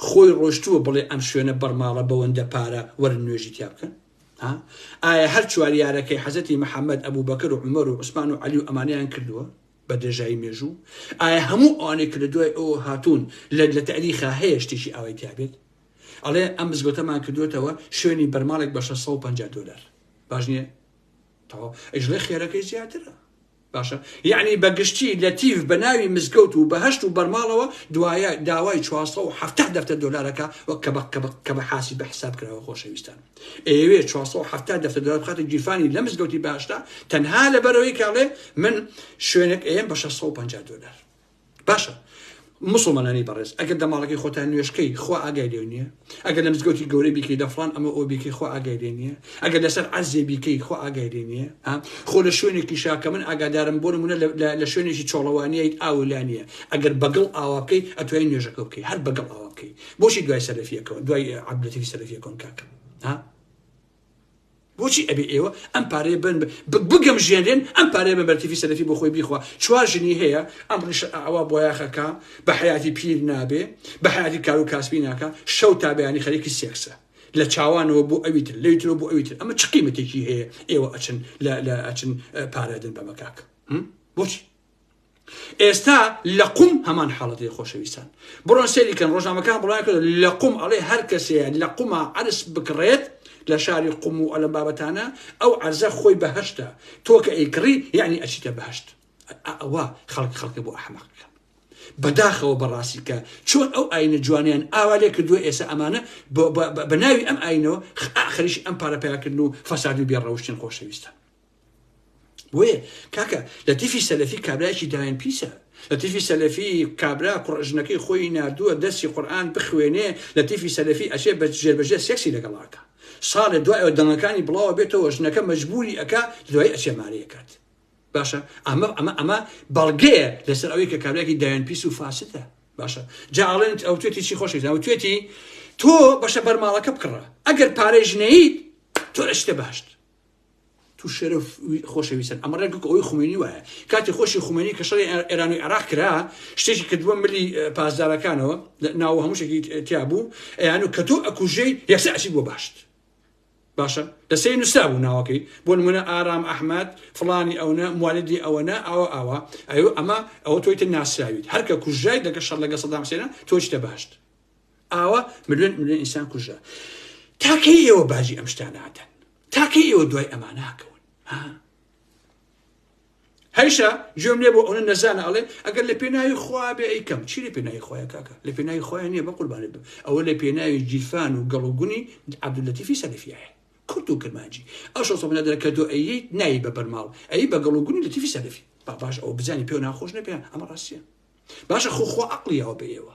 خۆی ڕۆشتووە بڵێ ئەم شوێنە بەڕماڵە بەوەندە پارە وەرن نوێژی تیا بکەن ها ئایا هەر چواریارەکەی حەزەتی محەممەد ئەبوو بەکر و عمر و عوسمان و علی و ئەمانیان کردووە بە درێژایی مێژوو ئایا هەموو ئەوانێک لە دوای ئەو هاتوون لە لە تەریخا هەیە شتێکی ئاوای تابێت ئەڵێ ئەم مزگەوتەمان کردوێتەوە شوێنی بەرماڵێک بە 650 دلار باش نییە تەواو ئەژڵێ خێرەکەی زیاترە باشە یەعنی بە گشتی لەتیف بە ناوی مزگەوت و بەهەشت و بەرماڵەوە دوایە داوای چوار سەد و حەفتا دەفتەر دۆلار ئەکا وەک کەبەق کەبەق کەبە حاسیبە حساب کراوە خۆشەویستان ئەیەوێ چوار سەد و حەفتا دەفتەر دۆلار بخاتە گیرفانی لە مزگەوتی بەهەشتا تەنها لەبەرەوەی کە ئەڵێ من شوێنێک ئەیەم بە شەش سەد و پەنجا دۆلار باشە مسلمانانی بەڕێز ئەگەر دەماڵەکەی خۆتان نوێشکەی خوا ئاگای لێ نییە ئەگەر لە مزگەوتی گەورەی بیکەی دەفران ئەمە ئەو بیکەی خوا ئاگای لێ نییە ئەگەر لەسەر عزیێ بیکەی خوا ئاگای لێ نییە خۆ لە شوێنێکی شاکە من ئاگادارم بۆ نمونە لە شوێنێکی چۆڵەوانیت ئاولا نییە ئەگەر بەگڵ ئاوا بکەی ئەتوای نوێژەکە بکەی هەر بەگڵ ئاوا بکەی بۆشی دوای سەرفیەکەەوە دوای عبلەتی سەرفیەکەن کاکە ها بۆچی ئەبێ ئێوە ئەم پارەیە بن بگەمژێنرێن ئەم پارەیە بە بەرتیفی سەلەفی بۆ خۆی بیخوا چوار ژنی هەیە ئەم ڕیشە ئاوا بۆیاخەکە بە حیاتی پیر نابێ بە حیاتی کار و کاسبی ناکە شەو تا بەیانی خەریکی سێکسە لە چاوانەوە بۆ ئەوی تر لەوی ترەوە بۆ ئەوی تر ئەمە چ قیمەتێکی هەیە ئێوە ئەچن لە ئەچن پارەدن بەمە کاک بۆچی ئێستا لە قوم هەمان حاڵەتی خۆشەویستان بڕۆن سێری کەن ڕۆژنامەکان بڵای کرد لە قوم ئەڵێ هەر کەسێ لە قوما عرس بکڕێت لە شاری قوم و ئەلە بابەتانە ئەو عرزە خۆی بەهشتە تۆ کە ئەیکڕی یعنی ئەچیتە بەهشت ئەوە خەڵک خەڵکە بۆ ئەحمەقەکە بەداخەوە بەڕاستی کە چۆن ئەو ئاینە جوانیان ئاوا لێ کردووە ئێستا ئەمانە بە ناوی ئەم ئاینەوە خەریش ئەم پارەپیاکردن و فەساد و بێڕەوشتن خۆشەویستە بۆیە کاکە لە تیفی سەلەفی کابراایکی داوێن پیسە لە تیفی سەلەفی کابرا کوڕژنەکەی خۆی نردووە دەستی قورآان بخوێنێ لە تیفی سەلەفی ئەچێ بە ژێربەژێ سێکسی لەگەڵاکە ساڵێ دوایەوە دەنگەکانی بڵاوە بێتەوە ژنەکە مەجبوری ئەک دوای ئەچێ مارەکات باشە ئەمە ئەمە ئەمە بەڵگەیە لەسەر ئەوەی کە کابراکی دایان پیس و فاسدە باشە جاڵێنت ئەو توێتی چی خۆشی ئەو توێتی تۆ بەشە بەرماڵەکە بکڕە ئەگەر پارێژنەیت تۆ لە شتە باشت تو شەرەف خۆشەویستن ئەمە ڕێک ئەوەی خومێنی وایە کاتی خۆشی خومێنی کە شەڕی ئێران و عێراق کرا شتێکی کردووە ملی پاسدارەکانەوە ناو هەمووشێکی تیا بوو ئەیان و کە تۆ ئەکوژەی یەکسە ئەچی بۆ باشت باشە لەسەر نووسرا بوو ناوەکەی بۆ نمونە ئارام ئەحمد فلانی ئەوە موالیدی ئەوەنە ئاوە ئاوا ئەو ئەمە ئەوە تۆیتە ناسراویت هەرکە کوژای دەکە شەر لەگە سەدام سێنە تۆچتە باشت ئاوا ملیۆن ملیۆن ئینسان کوژە تاکەی ئێوە باجی ئەم شتانادەن تاکەی ئێوە دوای ئەما ناکەون هەیشە گوێم لێ بۆ ئەوە نەزانە ئەڵێ ئەگەر لە پێناوی خوا بێ ئەیکەم چی لە پێناوی خۆیان کاکە لە پێناوی خۆیان نییە بە قوربانێت بم ئەوە لە پێناوی جیفان و گەڵوگونی عبدولەتیفی سەلفیایە کورت و کرمانجی ئەو شۆ سەمنە دەکە تۆ ئەی نایی بە بەرماڵ ئەی بە گەڵوگونی لە تیفی سەلفی با باش ئەو بزانانی پێ ناخۆش نەپێ ئەمە ڕاستە باشە خۆخوا عقلیەوە بە ئێوە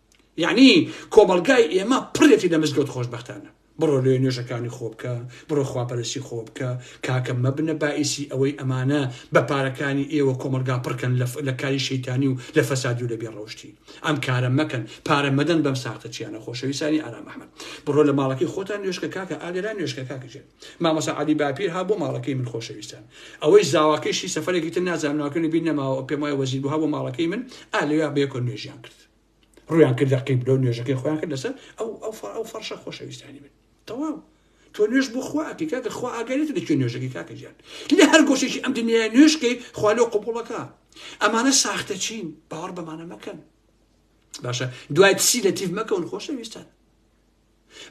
یعنی کۆمەڵگای ئێمە پڕێتی لە مزگەوت خۆشببختانە بڕۆ لێ نوێژەکانی خۆ بکە بڕۆ خواپەرسی خۆ بکە کاکە مەبنە باعیسی ئەوەی ئەمانە بە پارەکانی ئێوە کۆمەلگا پڕکەن لە کاری شەیتانی و لە فەسادی و لە بێ ڕەوشتی ئەم کارە مەکەن پارە مەدەن بەم ساختە چیانە خۆشەویستانی ئارام ئەحمد بڕۆ لە ماڵەکەی خۆتان نوێشکە کاکە ئاگەران نوێشکە کاکەژێت مامەسا علی باپیر ها بۆ ماڵەکەی من خۆشەویستان ئەوەی زاواکەشی سەفرێکی تر نازانناکەنی بیر نەماوە پێم وایە وەزیر بووها بۆ ماڵەکەی من ئالیا بێکۆ نوێژیان کرد ڕویان کردە قیبلە و نوێژەکەی خۆیان کرد لەسەر ئەو ئەو فەر ئەو فەرشە خۆشەویستانی من تەواو تۆ نوێژ بۆ خواکە کاکە خوا ئاگەرێت لە کوێ نوێژەکەی کاکە جان لە هەر گۆشێکی ئەم دنیا نوێشکەی خوا لەو قوبوڵەکە ئەمانە ساختە چین باوەڕ بەمانە مەکەن باشە دوای پسی لە تیف مەکەون خۆشەویستان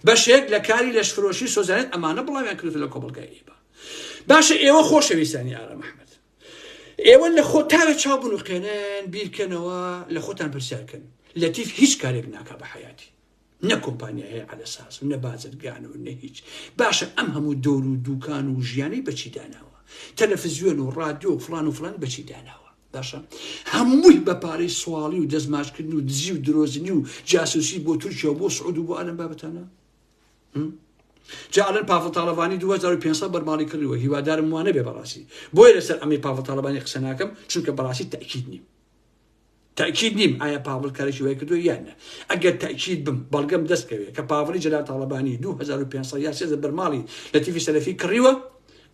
بەشێک لە کاری لەش فرۆشی سۆزانێت ئەمانە بڵاویان کرد لە کۆبڵگای ئیبا باشە ئێوە خۆشەویستانی ئارە مححمد ئێوە لەخۆ تاوێ چاو بنوقێنن بیرکەنەوە لە خۆتان پرسیارکەن لەتیف هیچ کارێک ناکا بە حیاتی نە کۆمپانیا هەیە عە ساز و نە بازرگان و نە هیچ باشە ئەم هەموو دۆر و دوکان و ژیانی بەچی داناوە تەلەفزیۆن و ڕادیۆ و فلان و فلان بەچی داناوە باشە هەمووی بە پارەی سواڵی و دەستماشکردن و دزی و درۆزنی و جاسوسی بۆ تورکیا و بۆ سعود و بۆ ئالم بابەتانە جا ئەلەن پاڤڵ تاڵەبانی 2500 بەرماڵی کڕیوە هیوادارم وانە بێ بەڕاستی بۆیە لەسەر ئەمەی پاڤڵ تاڵەبانی قسە ناکەم چونکە بەڕاستی تاکیید نیم تاکیید نیم ئایا پاڤڵ کارێکی وای کردو یان نە ئەگەر تاکیید بم بەڵگەم دەستکەوێت کە پاڤڵی جەلال تاڵەبانی 2500 یا سێزە بەرماڵی لە تیفی سەلەفی کڕیوە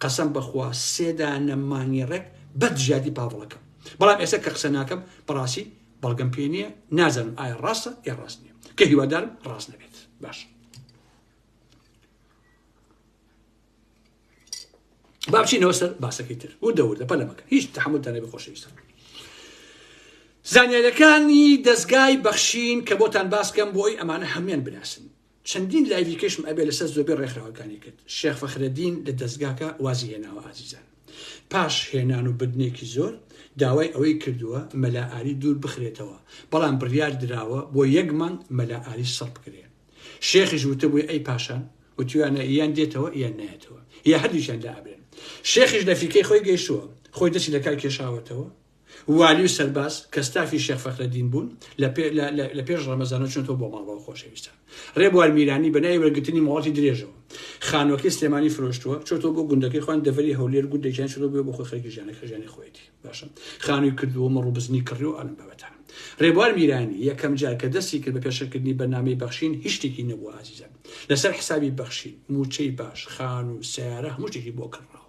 قەسەم بەخوا سێدانە مانگی ڕێک بەد ژیادی پاڤڵەکەم بەڵام ئێستا کە قسە ناکەم بەڕاستی بەڵگەم پێ نییە نازانم ئایا ڕاستە یا ڕاست نیە کە هیوادارم ڕاست نەبێت باش بابچینەوە سەر باسەکەی تر و دەوردە پەلەمەکە هیچ تحملتانە بخۆشەویستە زانیارەکانی دەستگای بەخشین کە بۆتان باسکەم بۆی ئەمانە هەموان بناسن چەندین لایڤی کەشم ئەبێ لەسەر زۆربەی ڕێکخراوەکانی کرد شێخ فەخرەدین لە دەزگاکە وازی هێناوە ئازیزان پاش هێنان و بردنێکی زۆر داوای ئەوەی کردووە مەلا ئاری دوور بخرێتەوە بەڵام بڕیار دراوە بۆ یەک مانگ مەلا ئاری سڕ بکرێ شێخیش وتبووی ئەی پاشان وتویانە یان دێتەوە یان نایەتەوە یا هەردووچیان لابرێن شێخیش لە فیکەی خۆی گەیشتووە خۆی دەستی لەکار کێشاوەتەوە والی و سەرباز کە ستافی شێخ فەخرەدین بوون لە پێ لە لە لە پێش ڕەمەزانەوە چوونەتەوە بۆ ماڵەوە خۆشەویستان ڕێبوار میرانی بە ناوی وەرگرتنی مۆڵەتی درێژەوە خانووەکەی سلێمانی فرۆشتووە چۆتەوە بۆ گوندەکەی خوان دەڤەری هەولێر گوندێکیان چۆتەوە بێ بۆ خۆی خەرکی ژیانە خەژیانی خۆیەتی باشە خانووی کردووە مەڕ و بزنی کڕی و ئەم بابەتان ڕێبوار میرانی یەکەم جار کە دەستی کرد بە پێشەکردنی بەرنامەی بەخشین هیچ شتێکی نەبوو ئازیزان لەسەر حسابی بەخشین موچەی باش خانوو سیارە هەموو شتێکی بۆ کڕاوە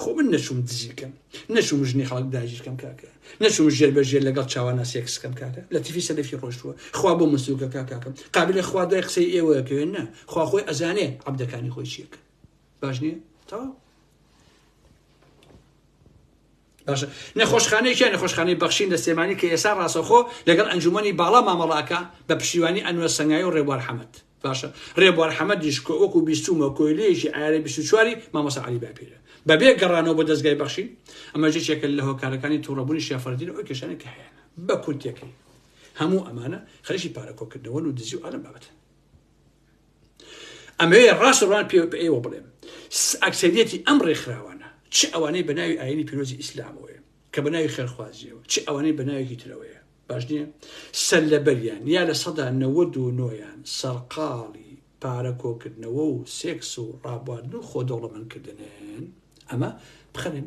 خۆ من نەچووم دزی بکەم نەچووم ژنی خەڵک داگیر کەم کاکە نەچووم ژێر بە ژێر لەگەڵ چاوانە سێکس کەم کاکە لە تیفی سەلەفی ڕۆشتووە خوا بۆ من سووکە کا کاکەم قابلە خوا دوای قسەی ئێوەیە کەوێن نا خوا خۆی ئەزانێ عەبدەکانی خۆی چیەکە باش نییە تەواو باشە نەخۆشخانەی کیا نەخۆشخانەی بەخشین لە سێمانی کە ئێسا ڕاستەخۆ لەگەڵ ئەنجومنی باڵا مامەڵاکە بە پشتیوانی ئەنوە سەنگایی و ڕێبوار حەمەد باشە ڕێبوار حەمەدیش کە وەکو بیستومە کۆیلەیەکی ئارە 24واری مامۆسا علی باپیرە بەبێ گەڕانەوە بە دەستگای بەخشین ئەمە جێکێکە لە هۆکارەکانی توڕەبوونی شێفەردین ئەو کێشانە کە هەیە بە کورتەکەی هەموو ئەمانە خەریکی پارەکۆکردنەوە و دزی و ئالم بابەتە ئەمەوێ ڕاست ڕوان پێ بە ئێوە بڵێم ئەکسەریەتی ئەم ڕێکخراوانە چ ئەوانەی بە ناوی ئاینی پیرۆزی ئیسلامەوەیە کە بە ناوی خێرخوازیەوە چ ئەوانەی بە ناوێکی ترەوەیە باش نییە سەر لەبەریان یا لە سەدا نەوە و نۆیان سەرقاڵی پارە کۆکردنەوە و سێکس و ڕابواردن و خۆ دەوڵەمەندکردنن ئەمە بخەنن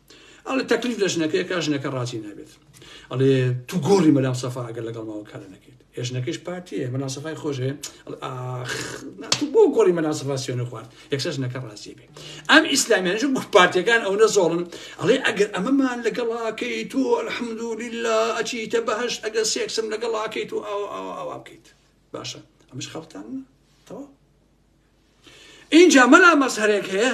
ئەڵێ تەکلیف لە ژنەکەی کا ژنەکە ڕازی نابێت ئەڵێ تو گۆڕی مەلام سەفا ئەگەر لەگەڵ ماوە کارە نەکەیت هێژنەکەش پارتیە مەلا سەفای خۆشێ تو بۆ گۆڕی مەلا سەفا سوێنە خوارد یەکسە ژنەکە ڕازی بێ ئەم ئیسلامیانش گوت پارتیەکان ئەوە زۆڵن ئەڵێ ئەگەر ئەمەمان لەگەڵاکەی تو الحمدولی لە ئەچیتە بەهشت ئەگەر سێکسم لەگەڵاکەی تو ئاوا ئاوا ئاوا بکەیت باشە ئەمش خەڵتان تەواو اینجا مەلا مەزهرێک هەیە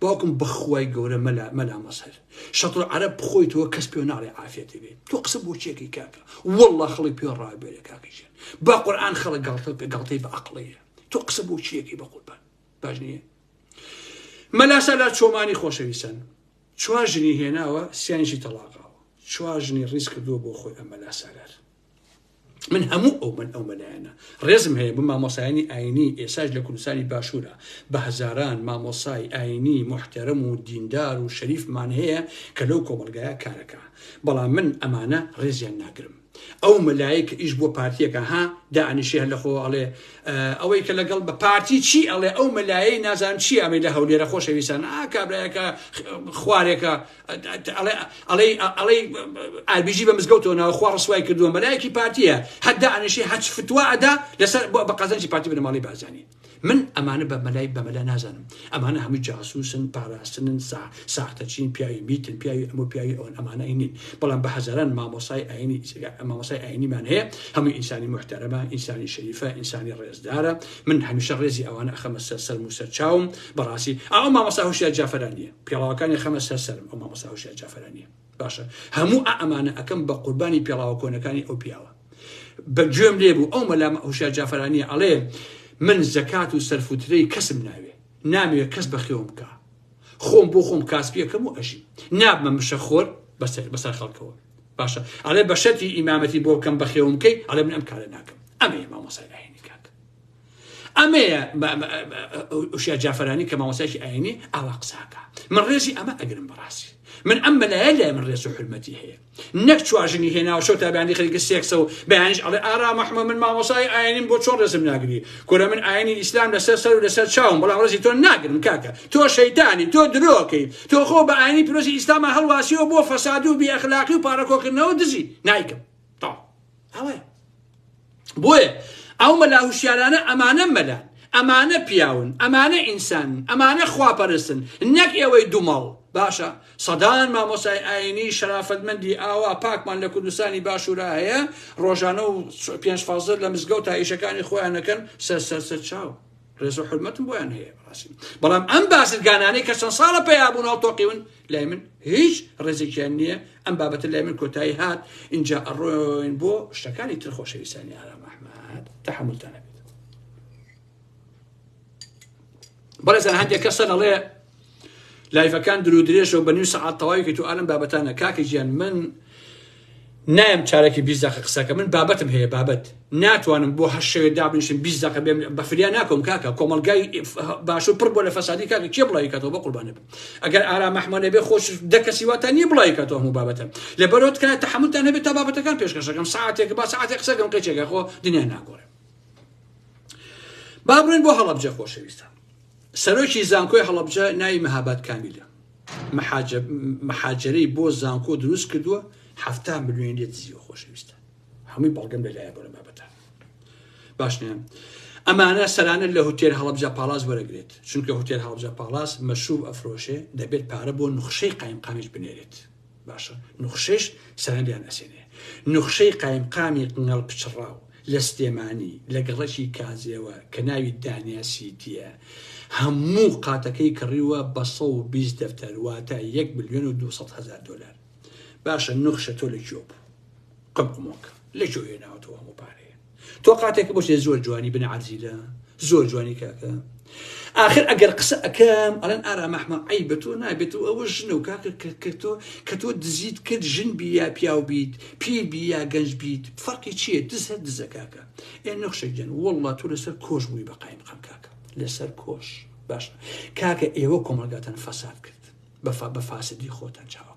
باوکم بەخوای گەورە مەلا مەلا مەزهەر شەتر عەرەب خۆی تۆ کەس پێ ناڵێ عافێتی بێ تۆ قسە بۆ چێکی کاکە والله خەڵی پێ ڕابێرە کاکی ژێن با قورآن خەڵە گاڵتە پێ گاڵتەی بە عقڵەیە تۆ قسە بۆ چیەکی بە قوربان باش نییە مەلاسا لا چۆمانی خۆشەویستن چوار ژنی هێناوە سیانیشی تەڵاقاوە چوار ژنی ڕیز کردووە بۆ خۆی ئەمە لا سالار من هەموو ئەو من ئەو مەلایەنە ڕێزم هەیە بە مامۆسایانی ئاینی ئێساش لە کوردستانی باشوورە بە هەزاران مامۆسای ئاینی محتەرم و دیندار و شەریفمان هەیە کە لەو کۆمەلگایە کارەکە بەڵام من ئەمانە ڕێزیان ناگرم ئەو مەلایە کە ئیش بۆ پارتیەکە ها دانیشی هەر لەخۆ ئەڵێ ئەوەی کە لەگەڵ بە پارتی چی ئەڵێ ئەو مەلایەی نازان چی ئەمەی لە هەولێرە خۆشەویستان ئا کابراەکە خوارێکە ئەڵێی ئاربیجی بە مزگەوتەوە ناوە خوا ڕسوای کردووە مەلایەکی پارتیە هەدا ئەنیشی هەچ فتووا ئەدا لەسەر بۆ بە قەزەنجی پارتی بنەماڵی بازانی من ئەمانە بە مەلای بەمەلا نازانم ئەمانە هەمووی جاسوسن پاراستنن سا ساختەچین پیاوی میتن پیاوی ئەمە پیاوی ئەوەن ئەمانە ئەینین بەڵام بە هەزاران مامۆسای ئاینی مامۆسای ئاینیمان هەیە هەمووی ئینسانی محتەرەمە ئینسانی شەریفە ئینسانی ڕێزدارە من هەمیشە ڕێزی ئەوانە ئەخەمە سەر سەر موسەر چاوم بەڕاستی ئەو مامۆسا هوشیار جافرانیە پێڵاوەکانی خەمە سەر سەرم ئەو مامۆستا هوشیار جافرانیە باشە هەموو ئا ئەمانە ئەکەم بە قوربانی پێڵاوە کۆنەکانی ئەو پیاوە بە گوێم لێ بوو ئەو مەلام هوشیار جافرانیە ئەڵێ من زەکات و سەرفوترەی کەسم ناوێ ناموێ کەس بەخێوم بکە خۆم بۆ خۆم کاسپیەکەم و ئەژی نابمە مشە خۆر بەسەر بەسەر خەڵکەوە باشە ئەڵێ بەشەتی ئیمامەتی بۆ بکەم بەخێوم بکەی ئەڵێ من ئەم کارە ناکەم ئەمێ مامۆسای ئاینی کاک ئەمەیە ئوشیا جافرانی کە مامۆسایکی ئاینی ئاوا قساکە من ڕێزی ئەمە ئەگرم بەڕاستی من ئەم مەلایە لای من ڕێز و حرمەتی هەیە نەک چواژنی هێناوە شەو تابیانی خەریکە سێکسە و بەیانش ئەڵێ ئارا مححمە من مامۆسای ئاینیم بۆ چۆن ڕێزم ناگری کورە من ئاینی ئیسلام لەسەر سەر و لەسەر چاوم بەڵام ڕێزی تۆ ناگرم کاکە تۆ شەیتانی تۆ درۆکەی تۆ خۆ بە ئاینی پیرۆزی ئیسلامە هەڵواسیەوە بۆ فەسادی و بێ ئەخلاقی و پارەکۆکردنەوە دزی نایکەم تەواو ئەوەیە بۆیە ئەو مەلا هوشیارانە ئەمانە مەلان ئەمانە پیاون ئەمانە ئینسانن ئەمانە خواپەرستن نەک ئێوەی دومەڵ باشە سەدان مامۆسای ئاینی شەرافەتمەندی ئاوا پاکمان لە کوردستانی باشورا هەیە ڕۆژانە و پێنج فازر لە مزگەوت تا ئیشەکانی خۆیانەکەن سەر سەر سەر چاو ڕێز و حرمەتم بۆیان هەیە بەڕاستی بەڵام ئەم بازرگانانەی کە چەند ساڵە پێیابوون هەڵتۆقیون لای من هیچ ڕێزێکیان نییە ئەم بابەتە لای من کۆتایی هات اینجا ئەڕۆین بۆ شتەکانی تر خۆشەویستانی ئارام ئەحمد تحملتان نەبێت بەڕێزان هەندێک کەسە دەڵێ لایفەکان درو درێژە و بە نیو سەعات تەواوی کە تو ئالم بابەتانە کاکە گیان من نایەم چارەکی بیست دەقە قسەکە من بابەتم هەیە بابەت ناتوانم بۆ هەشت شەوێ دابنیشم بیست دەقە بێم بە فریا ناکەوم کاکە کۆمەڵگای باشوور پڕ بۆ لە فەسادی کاکە کێ بڵاوی کاتەوە بە قوربانە بم ئەگەر ئارام ئەحمە نەبێ خۆش دە کەسی واتان نییە بڵاوی کاتەوە هەموو بابەتە لەبەرەوە تکایە تەحەمولتان هەبێت تا بابەتەکان پێشکەشەکەم ساعتێک با ساعتێک قسەکەم قەیچێکە خۆ دنیا ناگۆڕێ با بڕۆین بۆ هەڵەبجە خۆشەویستان سەرۆکی زانکۆی هەڵەبجە ناوی مەهاباد کامیلە محاجرەی بۆ زانکۆ دروست کردووە هەفتا ملیۆنی لێ دزیوە خۆشەویستە هەمووی بەڵگەم لەلایە بۆ لە بابەتە باشنە ئەمانە سەرانە لە هوتێر هەڵبجە پاڵاس وەرەگرێت چونکە هوتێر هەڵبجە پاڵاس مەشوب ئەفرۆشێ دەبێت پارە بۆ نخشەی قایمقامیش بنێرێت باشە نوخشەیش سەرەنجیان ئەسێنێ نوخشەی قایمقامی قنگەڵ پچڕاو لە سلێمانی لە گەڕەکی کازێوە کە ناوی دانیا سیتیە هەموو قاتەکەی کڕیوە بە 120 دەفتەر واتە 1 ملیۆن و 200 هەزار دۆلار باشە نوخشە تۆ لە کوێ بوو قمقمۆک لەکوێ هێناوەتەوە هەموو پارەیە تۆ قاتێکە بۆ زۆر جوانی بنە عرزیلە زۆر جوانی کاکە آخر ئەگەر قسە ئەەکەم ئەلەن ئارا مەحمە ئەی بە تۆ نابێت و ئەوە ژنە و کاکە کردۆ کە تۆ دزیت کرد ژن بی یا پیاو بیت پیر بی یا گەنج بیت فەرقی چیە دز هەر دزە کاکە ئێ نەخشەگەن وڵڵا تۆ لەسەر کۆش بووی بە قایم قەم کاکە لەسەر کۆش باش کاکە ئێوە کۆمەلگاتان فەساد کرد بەفا بە فاسدی خۆتان چاوە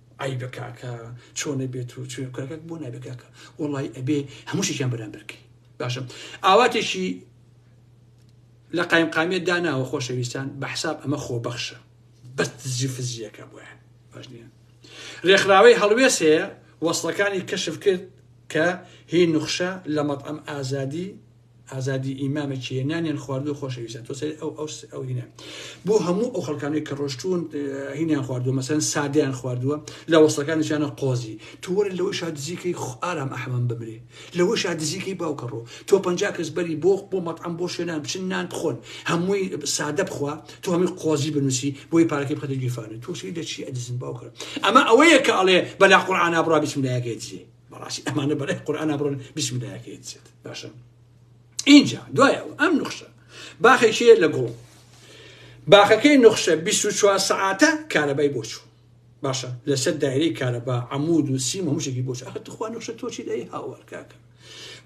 عەیبە کاکە چۆنە بێت و چۆن کاکە بۆ نابێ کاکە وڵی ئەبێ هەمووشیان بەرامبەرکەی باشە ئاواتێکی لە قایم قامێت داناوە خۆشەویستان بە حساب ئەمە خۆبەخشە بەست زیفزیەکە بۆە باش نیە ڕێکخراوەی هەڵوێست هەیە وەصلەکانی کەشف کرد کە هی نوخشە لە مەطعم ئازادی ئازادی ئیمامە چیە نانیان خواردو خۆشەویستان تۆ سەر ئەو ئەو ئەو هینە بۆ هەموو ئەو خەڵکانەی کە ڕۆشتون هینیان خواردووە مەسەن سادیان خواردووە لە وەسەکانیشانە قۆزی تۆوەرە لەوەی شادزیکەی ئارام ئەحمەم بمرێ لەوە شادزیکەی باوکە ڕۆ تۆ پ کەس بەری بۆ بۆ مەطعم بۆ شوێنان بچن نان بخۆن هەمووی سادە بخوا تۆ هەمووی قۆزی بنووسی بۆی پارەکەی بخەتە گیرفانە تۆ سەی دەچی ئەدزن باوکە ئەمە ئەوەیە کە ئەڵێ بەلا قورعانە بڕا بسم لایەکەی دزێ بەڕاستی ئەمانە بەلای قورئانا بڕۆن بیسملایە کە یەتسێت باشە ئینجا دوای ئەوە ئەم نوخشە باخێکیە لە گوڵ باخەکەی نوخشە 24 سعاتە کارەبای بۆ چوو باشە لەسەر دایرەی کارەبا عمود و سیم هەمووشێکی بۆ ئەخە تخوا نوخشە تۆچی دەی هاوار کاکە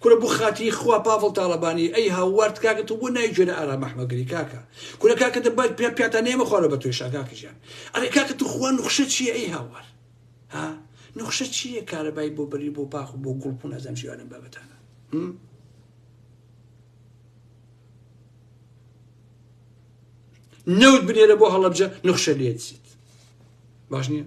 کورە بۆ خاتی خوا پاڤڵ تاڵەبانی ئەی هاوارد کاکە تۆ بۆ نای گوێرە ئارام ئەحمەگری کاکە کورە کاکە دەبات پێ پیاتا نێمە خوارە بە توێشا کاکەژیان ئەرێ کاکە تو خوا نوخشە چیە ئەی هاوار ها نوخشە چییە کارەبای بۆ بەری بۆ پاخ و بۆ گوڵپون ئەزەم ژیوانم بابەتانە نەوت بنێرە بۆ هەڵەبجە نوخشە لێتسیت باش نییە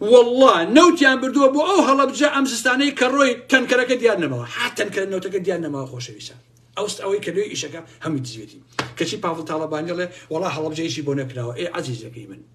والله نەوتیان بردووە بۆ ئەو هەڵەبجە ئەم زستانەی کە ڕۆی تەنکەرەکە دیار نەمەوە حتەن کە نەوتەکە دیار نەماوە خۆشەویسە ئەوست ئەوەی کە لێ ئیشەکە هەموو دزێتی کەچی پاڤڵ تاڵەبانیڵێ وڵا هەڵەبجەیشی بۆ نەکراوە ئێ عزیزەکەی من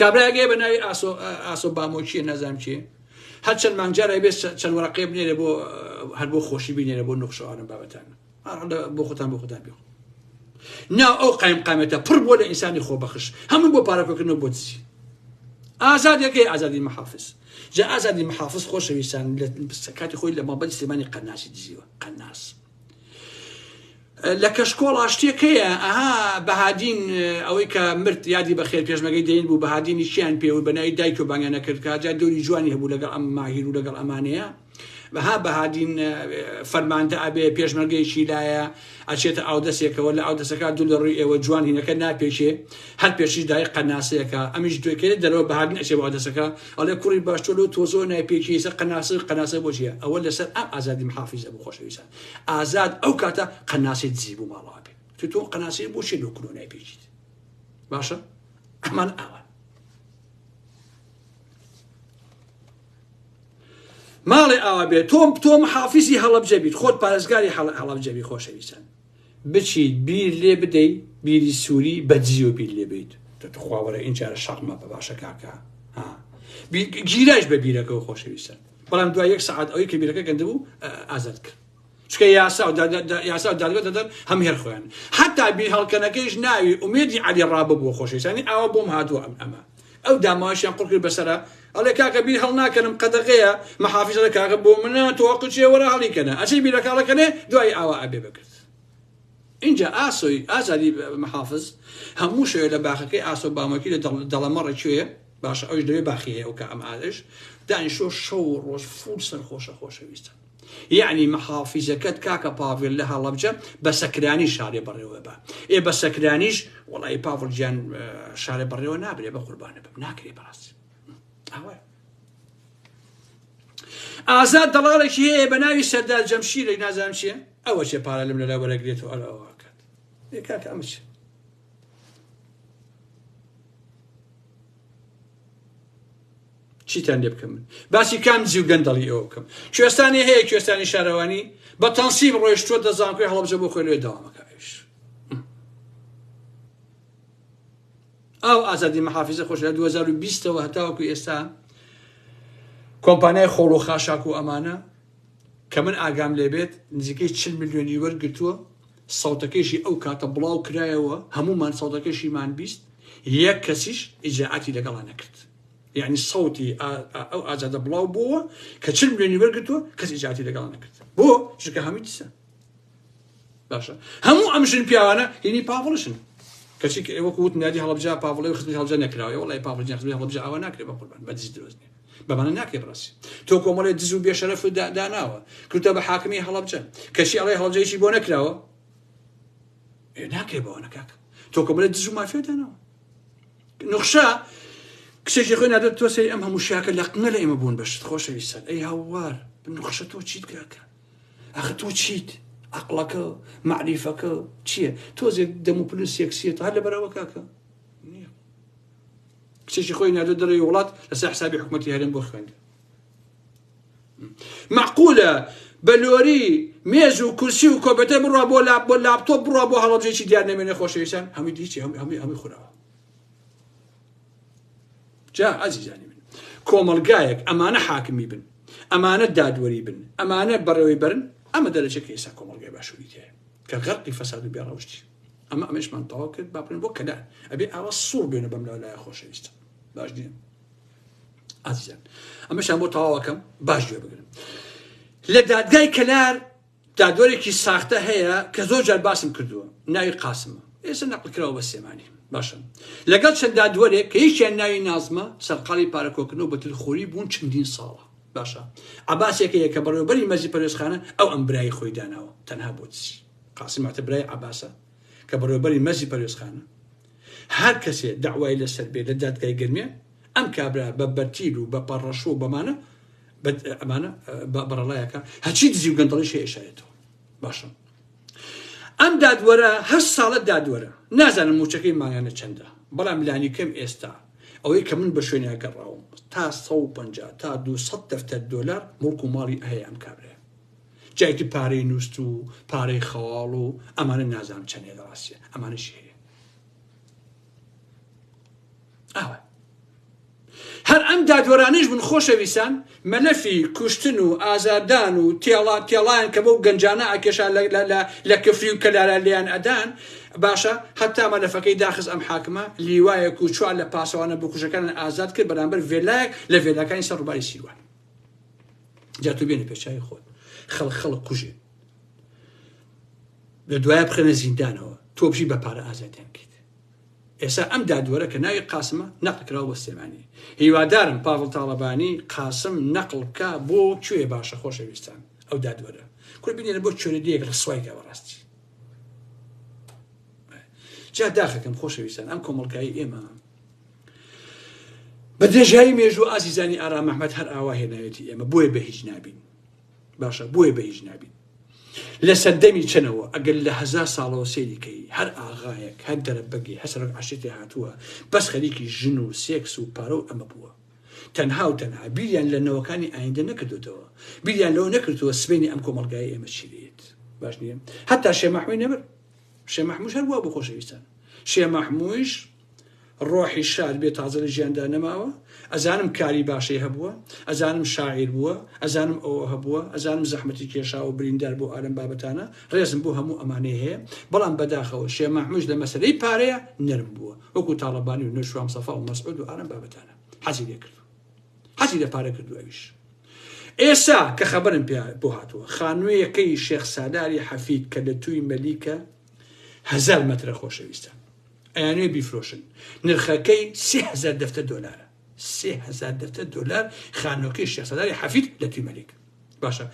کابرایەک هەیە بە ناوی ئاسۆ ئاسۆ بامۆکیە نازانم چێ هەر چەند مانگجارای بێت چەند وەرەقێ بنێرە بۆ هەر بۆ خۆشی بینێرە بۆ نوخشەوانە بابەتان بۆ خۆتان بۆ خۆتان بێخۆ نا ئەو قایم قامێتە پڕ بۆ لە ئینسانی خۆبەخش هەموو بۆ پارەکۆکردنەوە بۆ دزی ئازادەکەی ئازادی محافز جا ئازادی محافز خۆشەویستان لە کاتی خۆی لە مابەری سلێمانی قەناسی دزیوە قەناس لە کەشکۆڵ ئاشتێک هەیە ئەها بەهادین ئەوەی کە مرد یادی بەخێر پێشمەگەی دەین بوو بەهادینی چیان پێ و بەناوی دایک و بانگە نەکرد کاجا دەوری جوانی هەبوو لەگەڵ ئەم ماهیر و لەگەڵ ئەمانەیە بەها بەهادین فەرماندە ئەبێ پێشمەرگەیەکی لایە ئەچێتە ئاودەسێکەوە لە ئاودەسەکە دوو لە ڕووی ئێوە جوان هینەکە ناپێکێ هەر پێشیش دایک قەناسەیەکە ئەمیش دوێکەێ دەرەوە بەهاردن ئەچێ بۆ عەدەسەکە ئەڵێ کوڕی باش تۆ لۆ تۆزۆ نای پێکی سەر قەناسە قەناسە بۆ چیە ئەوە لەسەر ئەم ئازادی محافیزە بوو خۆشەویستان ئازاد ئەو کاتە قەناسی دزی بوو ماڵەوە بێ تو تۆ قەناسی بۆ چی لۆ کلۆ نای پێکیت باشە ئەمان ئاوان ماڵێ ئاوا بێت تۆم تۆم حافزی هەڵبجەبیت خۆت پارێزگاری هەڵبجەبی خۆشەویستان بچیت بیر لێ بدەی بیری سوری بە جیۆ بیر لێ بیت تخوا وەرە ئینجارە شەق مەبە باشە کاکە ها گیرایش بە بیرەکەەوە خۆشەویستە بەڵام دوای یەک سعات ئەوەی کە بیرەکە گەندە بوو ئازاد کرد چکە یاسا و یاسا و دادگە دەدەن هەم هێر خۆیان حتا بیر هەڵکەنەکەیش ناوی ئومێدی علی ڕابە بووە خۆشەویستانی ئاوە بۆم هاتووە ئەم ئەمە ئەو داماویشیان قڕ کرد بەسەرا ئەڵێ کاکە بیر هەڵناکەنم قەدەغەیە مەحافیز ئەڵێ کاکە بۆ منە تۆ قچێ وەرە هەڵیکەنە ئەچێ بیرەکە هەڵەکەنێ دوایی ئاوا ئەبێ بەکرد اینجا ئاسۆی ئازادی مەحافز هەموو شوێ لە باخەکەی ئاسۆ بامەکی لە دەڵەمەڕە کوێ باشە ئەوش لەوێ باخی هەیە ئەو کە ئەم ئادش دانیشۆ شەو ڕۆژ فول سەرخۆشە خۆشەویستە یەعنی محافیزەکەت کاکە پاڤێل لە هەڵەبجە بە سەکرانی شارێ بەڕێوە با ئێ بە سەکرانیش وەڵی پاڤڵ گیان شارێ بەڕێوە نابرێ بە قوربانە بم ناکرێ بەڕاستی ئەوە ئازاد دەڵاڵێکی هەیە بە ناوی سەردا جەمشیرێک نازانم چیە ئەوە چێ پارە لەم لەلا وەرەگرێت و ئەرەوەکات کاکە ئەمە چێ چیتان لێ بکەم من باسی کام جی و گەندەڵی ئەوە بکەم کوێستانی هەیە کوێستانی شارەوانی بە تەنسیب ڕۆیشتوە دەزانکوێ هەڵبجە بۆ خۆی لێ داوامەکەش ئەو ئازادی محافزە خۆش لە 2020ەوە هەتاوەکو ئێستا کۆمپانیای خۆڵ و خاشاک و ئەمانە کە من ئاگام لێبێت نزیکەی چ ملیۆنی وەرگتووە سەوتەکەیشی ئەو کاتە بڵاو کرایەوە هەموومان سەوتەکەشیمان بیست یەک کەسیش ئیجرائاتی لەگەڵا نەکرد یعنی سەوتی ئا ئا ئەو ئازادە بڵاو بووە کە چل ملیۆنی وەرگرتووە کەس ئیجرائاتی لەگەڵا نەکرد بۆ چونکە هەمووی دسە باشە هەموو ئەم ژن پیاوانە هینی پاڤڵشن کەچی کە ئێوە وت نادی هەڵبجا پاڤڵی و خزمی هەڵبجە نەکراوە وڵی پاڤڵ جان خزمی هەڵبجا ئەوە ناکرێت بە قوربان بە دز درۆزنی بەمانە ناکەی بڕەس تۆ کۆمەڵێ دز و بێشەرەف و داناوە کردە بە حاکمی هەڵبجە کەچی ئەڵێ هەڵجەیشی بۆ نەکراوە ناکەی بەوانە کاکە تۆ کۆمەڵێ دز و مافێ داناوە نخشە کچێکی خۆی نادێت تۆ سەری ئەم هەموو شاکە لە قنە لە ئێمە بوون بەشت خۆشەوی سەر ئەی هاوار نخشە تۆ چیت کاکە ئەخ تۆ چیت عقلەکە معریفەکە چییە تۆزێک دەم و پلوس یەکسیێت هەر لە بەرەوە کاکە کچێکی خۆی نادە دەڕێی وڵات لەسەر حسابی حکوومەتی هەرێم بۆ خوێندن معقولە بە لۆری مێز و کورسی و کۆپێتە بڕە بۆ لا بۆ لاپتۆ بڕە بۆ هەڵبجێکی دیار نەمێنە خۆشەویستان هەمووی دیچی هەم هەمووی هەمووی خوراوە جا ئازیزانی من کۆمەلگایەک ئەمانە حاکمی بن ئەمانە دادوەری بن ئەمانە بەڕێوەی بەرن ئەمە دەرەجەکە ئێستا کۆمەلگای باشووری تێ کە غەرقی فەساد و بێڕەوشتی ئەمە ئەمەشمان تەواو کرد با بڕێن بۆ کەلار ئەبێ ئاوا سوڕ بێنە بەم لا لایە خۆشەویستە باش نیە ئازیزان ئەمەشان بۆ تەواوەکەم باش گوێ بگرن لە دادگای کەلار دادوەرێکی ساختە هەیە کە زۆر جار باسم کردووە ناوی قاسمە ئێستا نەقلکراوە بە سێمانی باشن لەگەڵ چەند دادوەرێک کە یەکیان ناوی نازمە سەرقاڵی پارەکۆکردنەوە بە تلخۆری بوون چەندین ساڵە باشە عباسێکەیە کە بەڕێوبەری مەزی پەرێزخانە ئەو ئەم برایی خۆی داناوە تەنها بۆ چی قاسم عەتە برای عەباسە کە بەڕێوەبەری مەرزی پەروێزخانە. هەر کەسێ دەعوای لەسەر بێ لە دادگای گەرمیان ئەم کابرا بە بەرتیل و بە پەڕەشوو و بەمانە ئەمانە بەڕەڵایەکە هەچی دزی و گەندەڵی شێ ئێشارێتەوە باشە ئەم دادوەرە هەر ساڵە دادوەرە نازانم موچەکەی ماگانە چەندە بەڵام لانی کەم ئێستا ئەوەی کە من بە شوێنە گەڕاوم تا 150 تا 200 دەفتەر دۆلار مڵک و ماڵی ئەهەیە ئەم کابرێ جا ئیتر پارەی نوست و پارەی خەواڵ و ئەمانە نازانم چەندێ لە ڕاستیە ئەمانەشی هەیە ئاوە هەر ئەم دادوەرانیش بن خۆشەویسان مەلەفی کوشتن و ئازاردان و تێڵا تێڵیان کە بۆ گەنجانە ئاکێشا لە کفری و کەلارە لیان ئەدان باشە هەتا مەلەفەکەی داخز ئەم حاکمە لیوایەک و چوار لە پاسەوانە بکوژەکانیان ئازاد کرد بەرامبەر ڤێلایەک لە ڤێلاکانی سەر ڕوباری سیروان جا تو بێنە پێچوی خۆت خەڵ خەڵک کوژێ لە دوایە بخێنە زیندانەوە تۆ بژی بە پارە ئازادیان کەیت ئێستا ئەم دادوەرە کە ناوی قاسمە نەقلکراوە بە سلێمانی هیوادارم پاڤڵ تاڵەبانی قاسم نەقل بکە بۆ کوێ باشە خۆشەویستان ئەو دادوەرە کورد بینێنە بۆ چۆرە دیەک ڕسوای کە بەڕاستی جا داخەکەم خۆشەویستان ئەم کۆمەڵکایی ئێمە بە درێژایی مێژوو ئازیزانی ئارام ئەحمەد هەر ئاوا هێنایەتی ئێمە بۆیە بە هیچ نابین باشە بۆیە بە هیچ نابین لە سەردەمی چەنەوە ئەگەر لە هەزار ساڵەوە سێریکەی هەر ئاغایەک هەر دەرەبەگی هەسەرک عشتێ هاتووە بەس خەریکی ژن و سێکس و پارە و ئەمە بووە تەنها و تەنها بیریان لە نەوەکانی ئایندە نەکردوتەوە بیریان لەوە نەکردووە سبینی ئەم کۆمەلگای ئێمە چی لێت باش نیە هەتا شێ مەحموی نەبر شێ مەحموش هەر بووە بۆ خۆشەویستان شێ مەحموش ڕۆحی شاد بێ تازە لە ژیاندا نەماوە ئەزانم کاری باشەی هەبووە ئەزانم شاعیر بووە ئەزانم ئەوە هەبووە ئەزانم زەحمەتی کێشاوە بریندار بۆ ئالەم بابەتانە ڕێزم بۆ هەموو ئەمانەی هەیە بەڵام بەداخەوە شێ مەحموش لە مەسەلەی پارەیە نەرم بووە وەکو تاڵەبانی و نەشوام سەفا و مەسعود و ئالەم بابەتانە حەزی لێ کرد حەزی لە پارە کردو ئەویش ئێسا کە خەبەرم پێ بۆ هاتووە خانوویەکەی شێخ سالاری حەفید کە لە توی مەلیکە هەزار مەترە خۆشەویستان ئەیانوێ بیفرۆشن نرخەکەی سێ هەزار دەفتە دۆلارە سێ هەزار دەفتە دۆلار خانۆکەی شێسەداری حەفید لە توی مەلیک باشە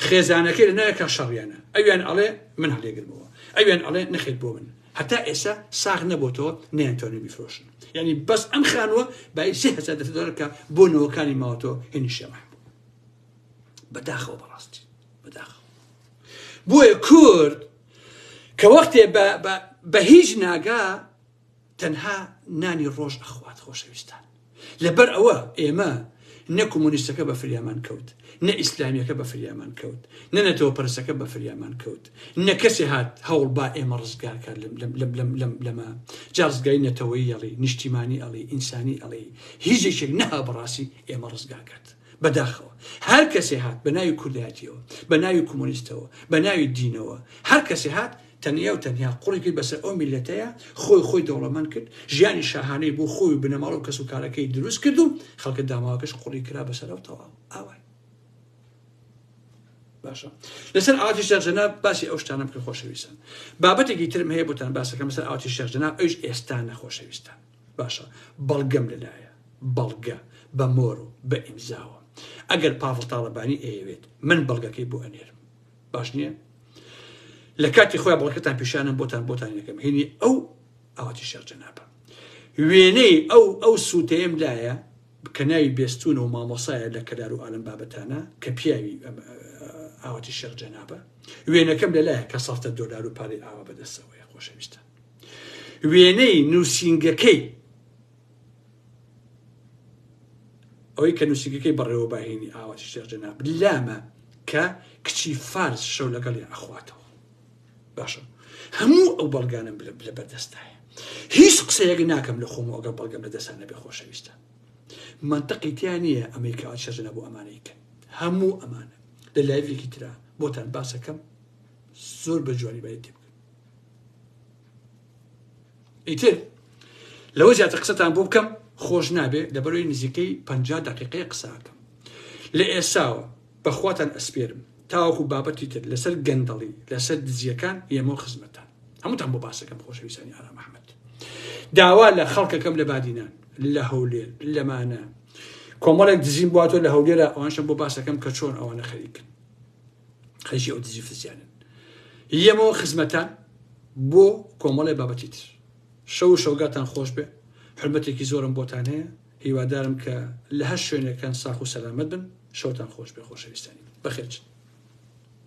خێزانەکەی لە نایەکە شەڕیانە ئەویان ئەڵێ من هەڵێگرمەوە ئەویان ئەڵێ نەخێت بۆ من هەتا ئێستا ساغ نەبووەوە نیانتۆنی بیفرۆشن یعنی بەس ئەم خانووە بای سێ هەزار دەفتە دۆلارکە بۆ نەوەکانی ماوەتەوە هێنی شێمە بەداخەوە بەڕاستی بەداخەوە بۆیە کورد کە وەختێ بە بە بە هیچ ناگا تەنها نانی ڕۆژ ئەخوات خۆشەویستان لەبەر ئەوە ئێمە نە کۆمۆنیستەکە بە فریامان کەوت نە ئیسلامیەکە بە فریامان کەوت نە نەتەوە پرسەکە بە فریامان کەوت نە کەسێ هات هەوڵ با ئێمە ڕزگار کار لەمە جازگای نەتەوەی ئەڵی نیشتیمانی ئەڵی ئینسانی ئەڵی هیچێکێک نەها بەڕاستی ئێمە ڕزگاکرد بەداخەوە هەر کەسێ هات بە ناوی کوردایەتیەوە بە ناوی کۆمۆنیستەوە بە ناوی دینەوە هەر کەسێ هات تەنیا و تەنیا قوڕی کرد بەسەر ئەو میلەتەیە خۆی خۆی دەوڵەمەند کرد ژیانی شاهانەی بۆ خۆی و بنەماڵە و کەس و کارەکەی دروست کرد و خەڵکە داماوەکەش قوڕی کرا بەسەر ئەو تەواو ئاوای باشە لەسەر ئاتی شەر جەناب باسی ئەو شتانم کە خۆشەویستن بابەتێکی ترم هەیە بۆتان باسەکەم لەسەر ئاتی شەر جەناب ئەوش ئێستا نەخۆشەویستان باشە بەڵگەم لەلایە بەڵگە بە مۆر و بە ئیمزاوە ئەگەر پاڤڵ تاڵەبانی ئەیەوێت من بەڵگەکەی بۆ ئەنێرم باش نییە لە کاتی خۆیان بەڵکەتان پیشانم بۆتان بۆتان یەکەم هێنی ئەو ئاواتی شێخ جەنابە وێنەی ئەو ئەو سووتەیەم لایە کە ناوی بێستون و مامۆسایە لە کەلار و ئالم بابەتانە کە پیاوی ئاواتی شێخ جەنابە وێنەکەم لەلایە کە سەفتە دۆلار و پارەی ئاوا بەدەستەوەی خۆشەویستە وێنەی نووسینگەکەی ئەوەی کە نووسینگەکەی بەڕێوە باهێنی ئاواتی شێخ جەناب لامە کە کچی فارس شەو لەگەڵی ئەخواتەوە باشە هەموو ئەو بەڵگانم لە بەردەستایە هیچ قسەیەک ناکەم لە خۆم ئەگەر بەڵگەم لە دەسانە بێ خۆشەویستە منطقی تیا نییە ئەمریکا شەژنە بۆ ئەمانەیکە هەموو ئەمانە لە لایڤێکی ترا بۆتان باسەکەم زۆر بە جوانی بای تێ ئیتر لەوە زیاتر قسەتان بۆ بکەم خۆش نابێت لەبەرەوەی نزیکەی پ دقیقەیە قساکەم لە ئێساوە بەخواتان ئەسپێرم تاوەکو بابەتی تر لەسەر گەندەڵی لەسەر دزیەکان ئێمە خزمەتان هەمووتان بۆ باسەکەم خۆشەویستانی ئارا مححمد داوا لە خەڵکەکەم لە بادینان لە هەولێر لەمانە کۆمەڵێک دزین بواتۆ لە هەولێرە ئەوانشم بۆ باسەکەم کە چۆن ئەوانە خەریکن خەریکی ئەو دزی فزیانن یەمەوە خزمەتان بۆ کۆمەڵی بابەتی تر شەو شەوگاتان خۆش بێ حرمەتێکی زۆرم بۆتان هەیە هیوادارم کە لە هەر شوێنەکان ساخ و سەلامەت بن شەوتان خۆش بێ خۆشەویستانی بەخێرچن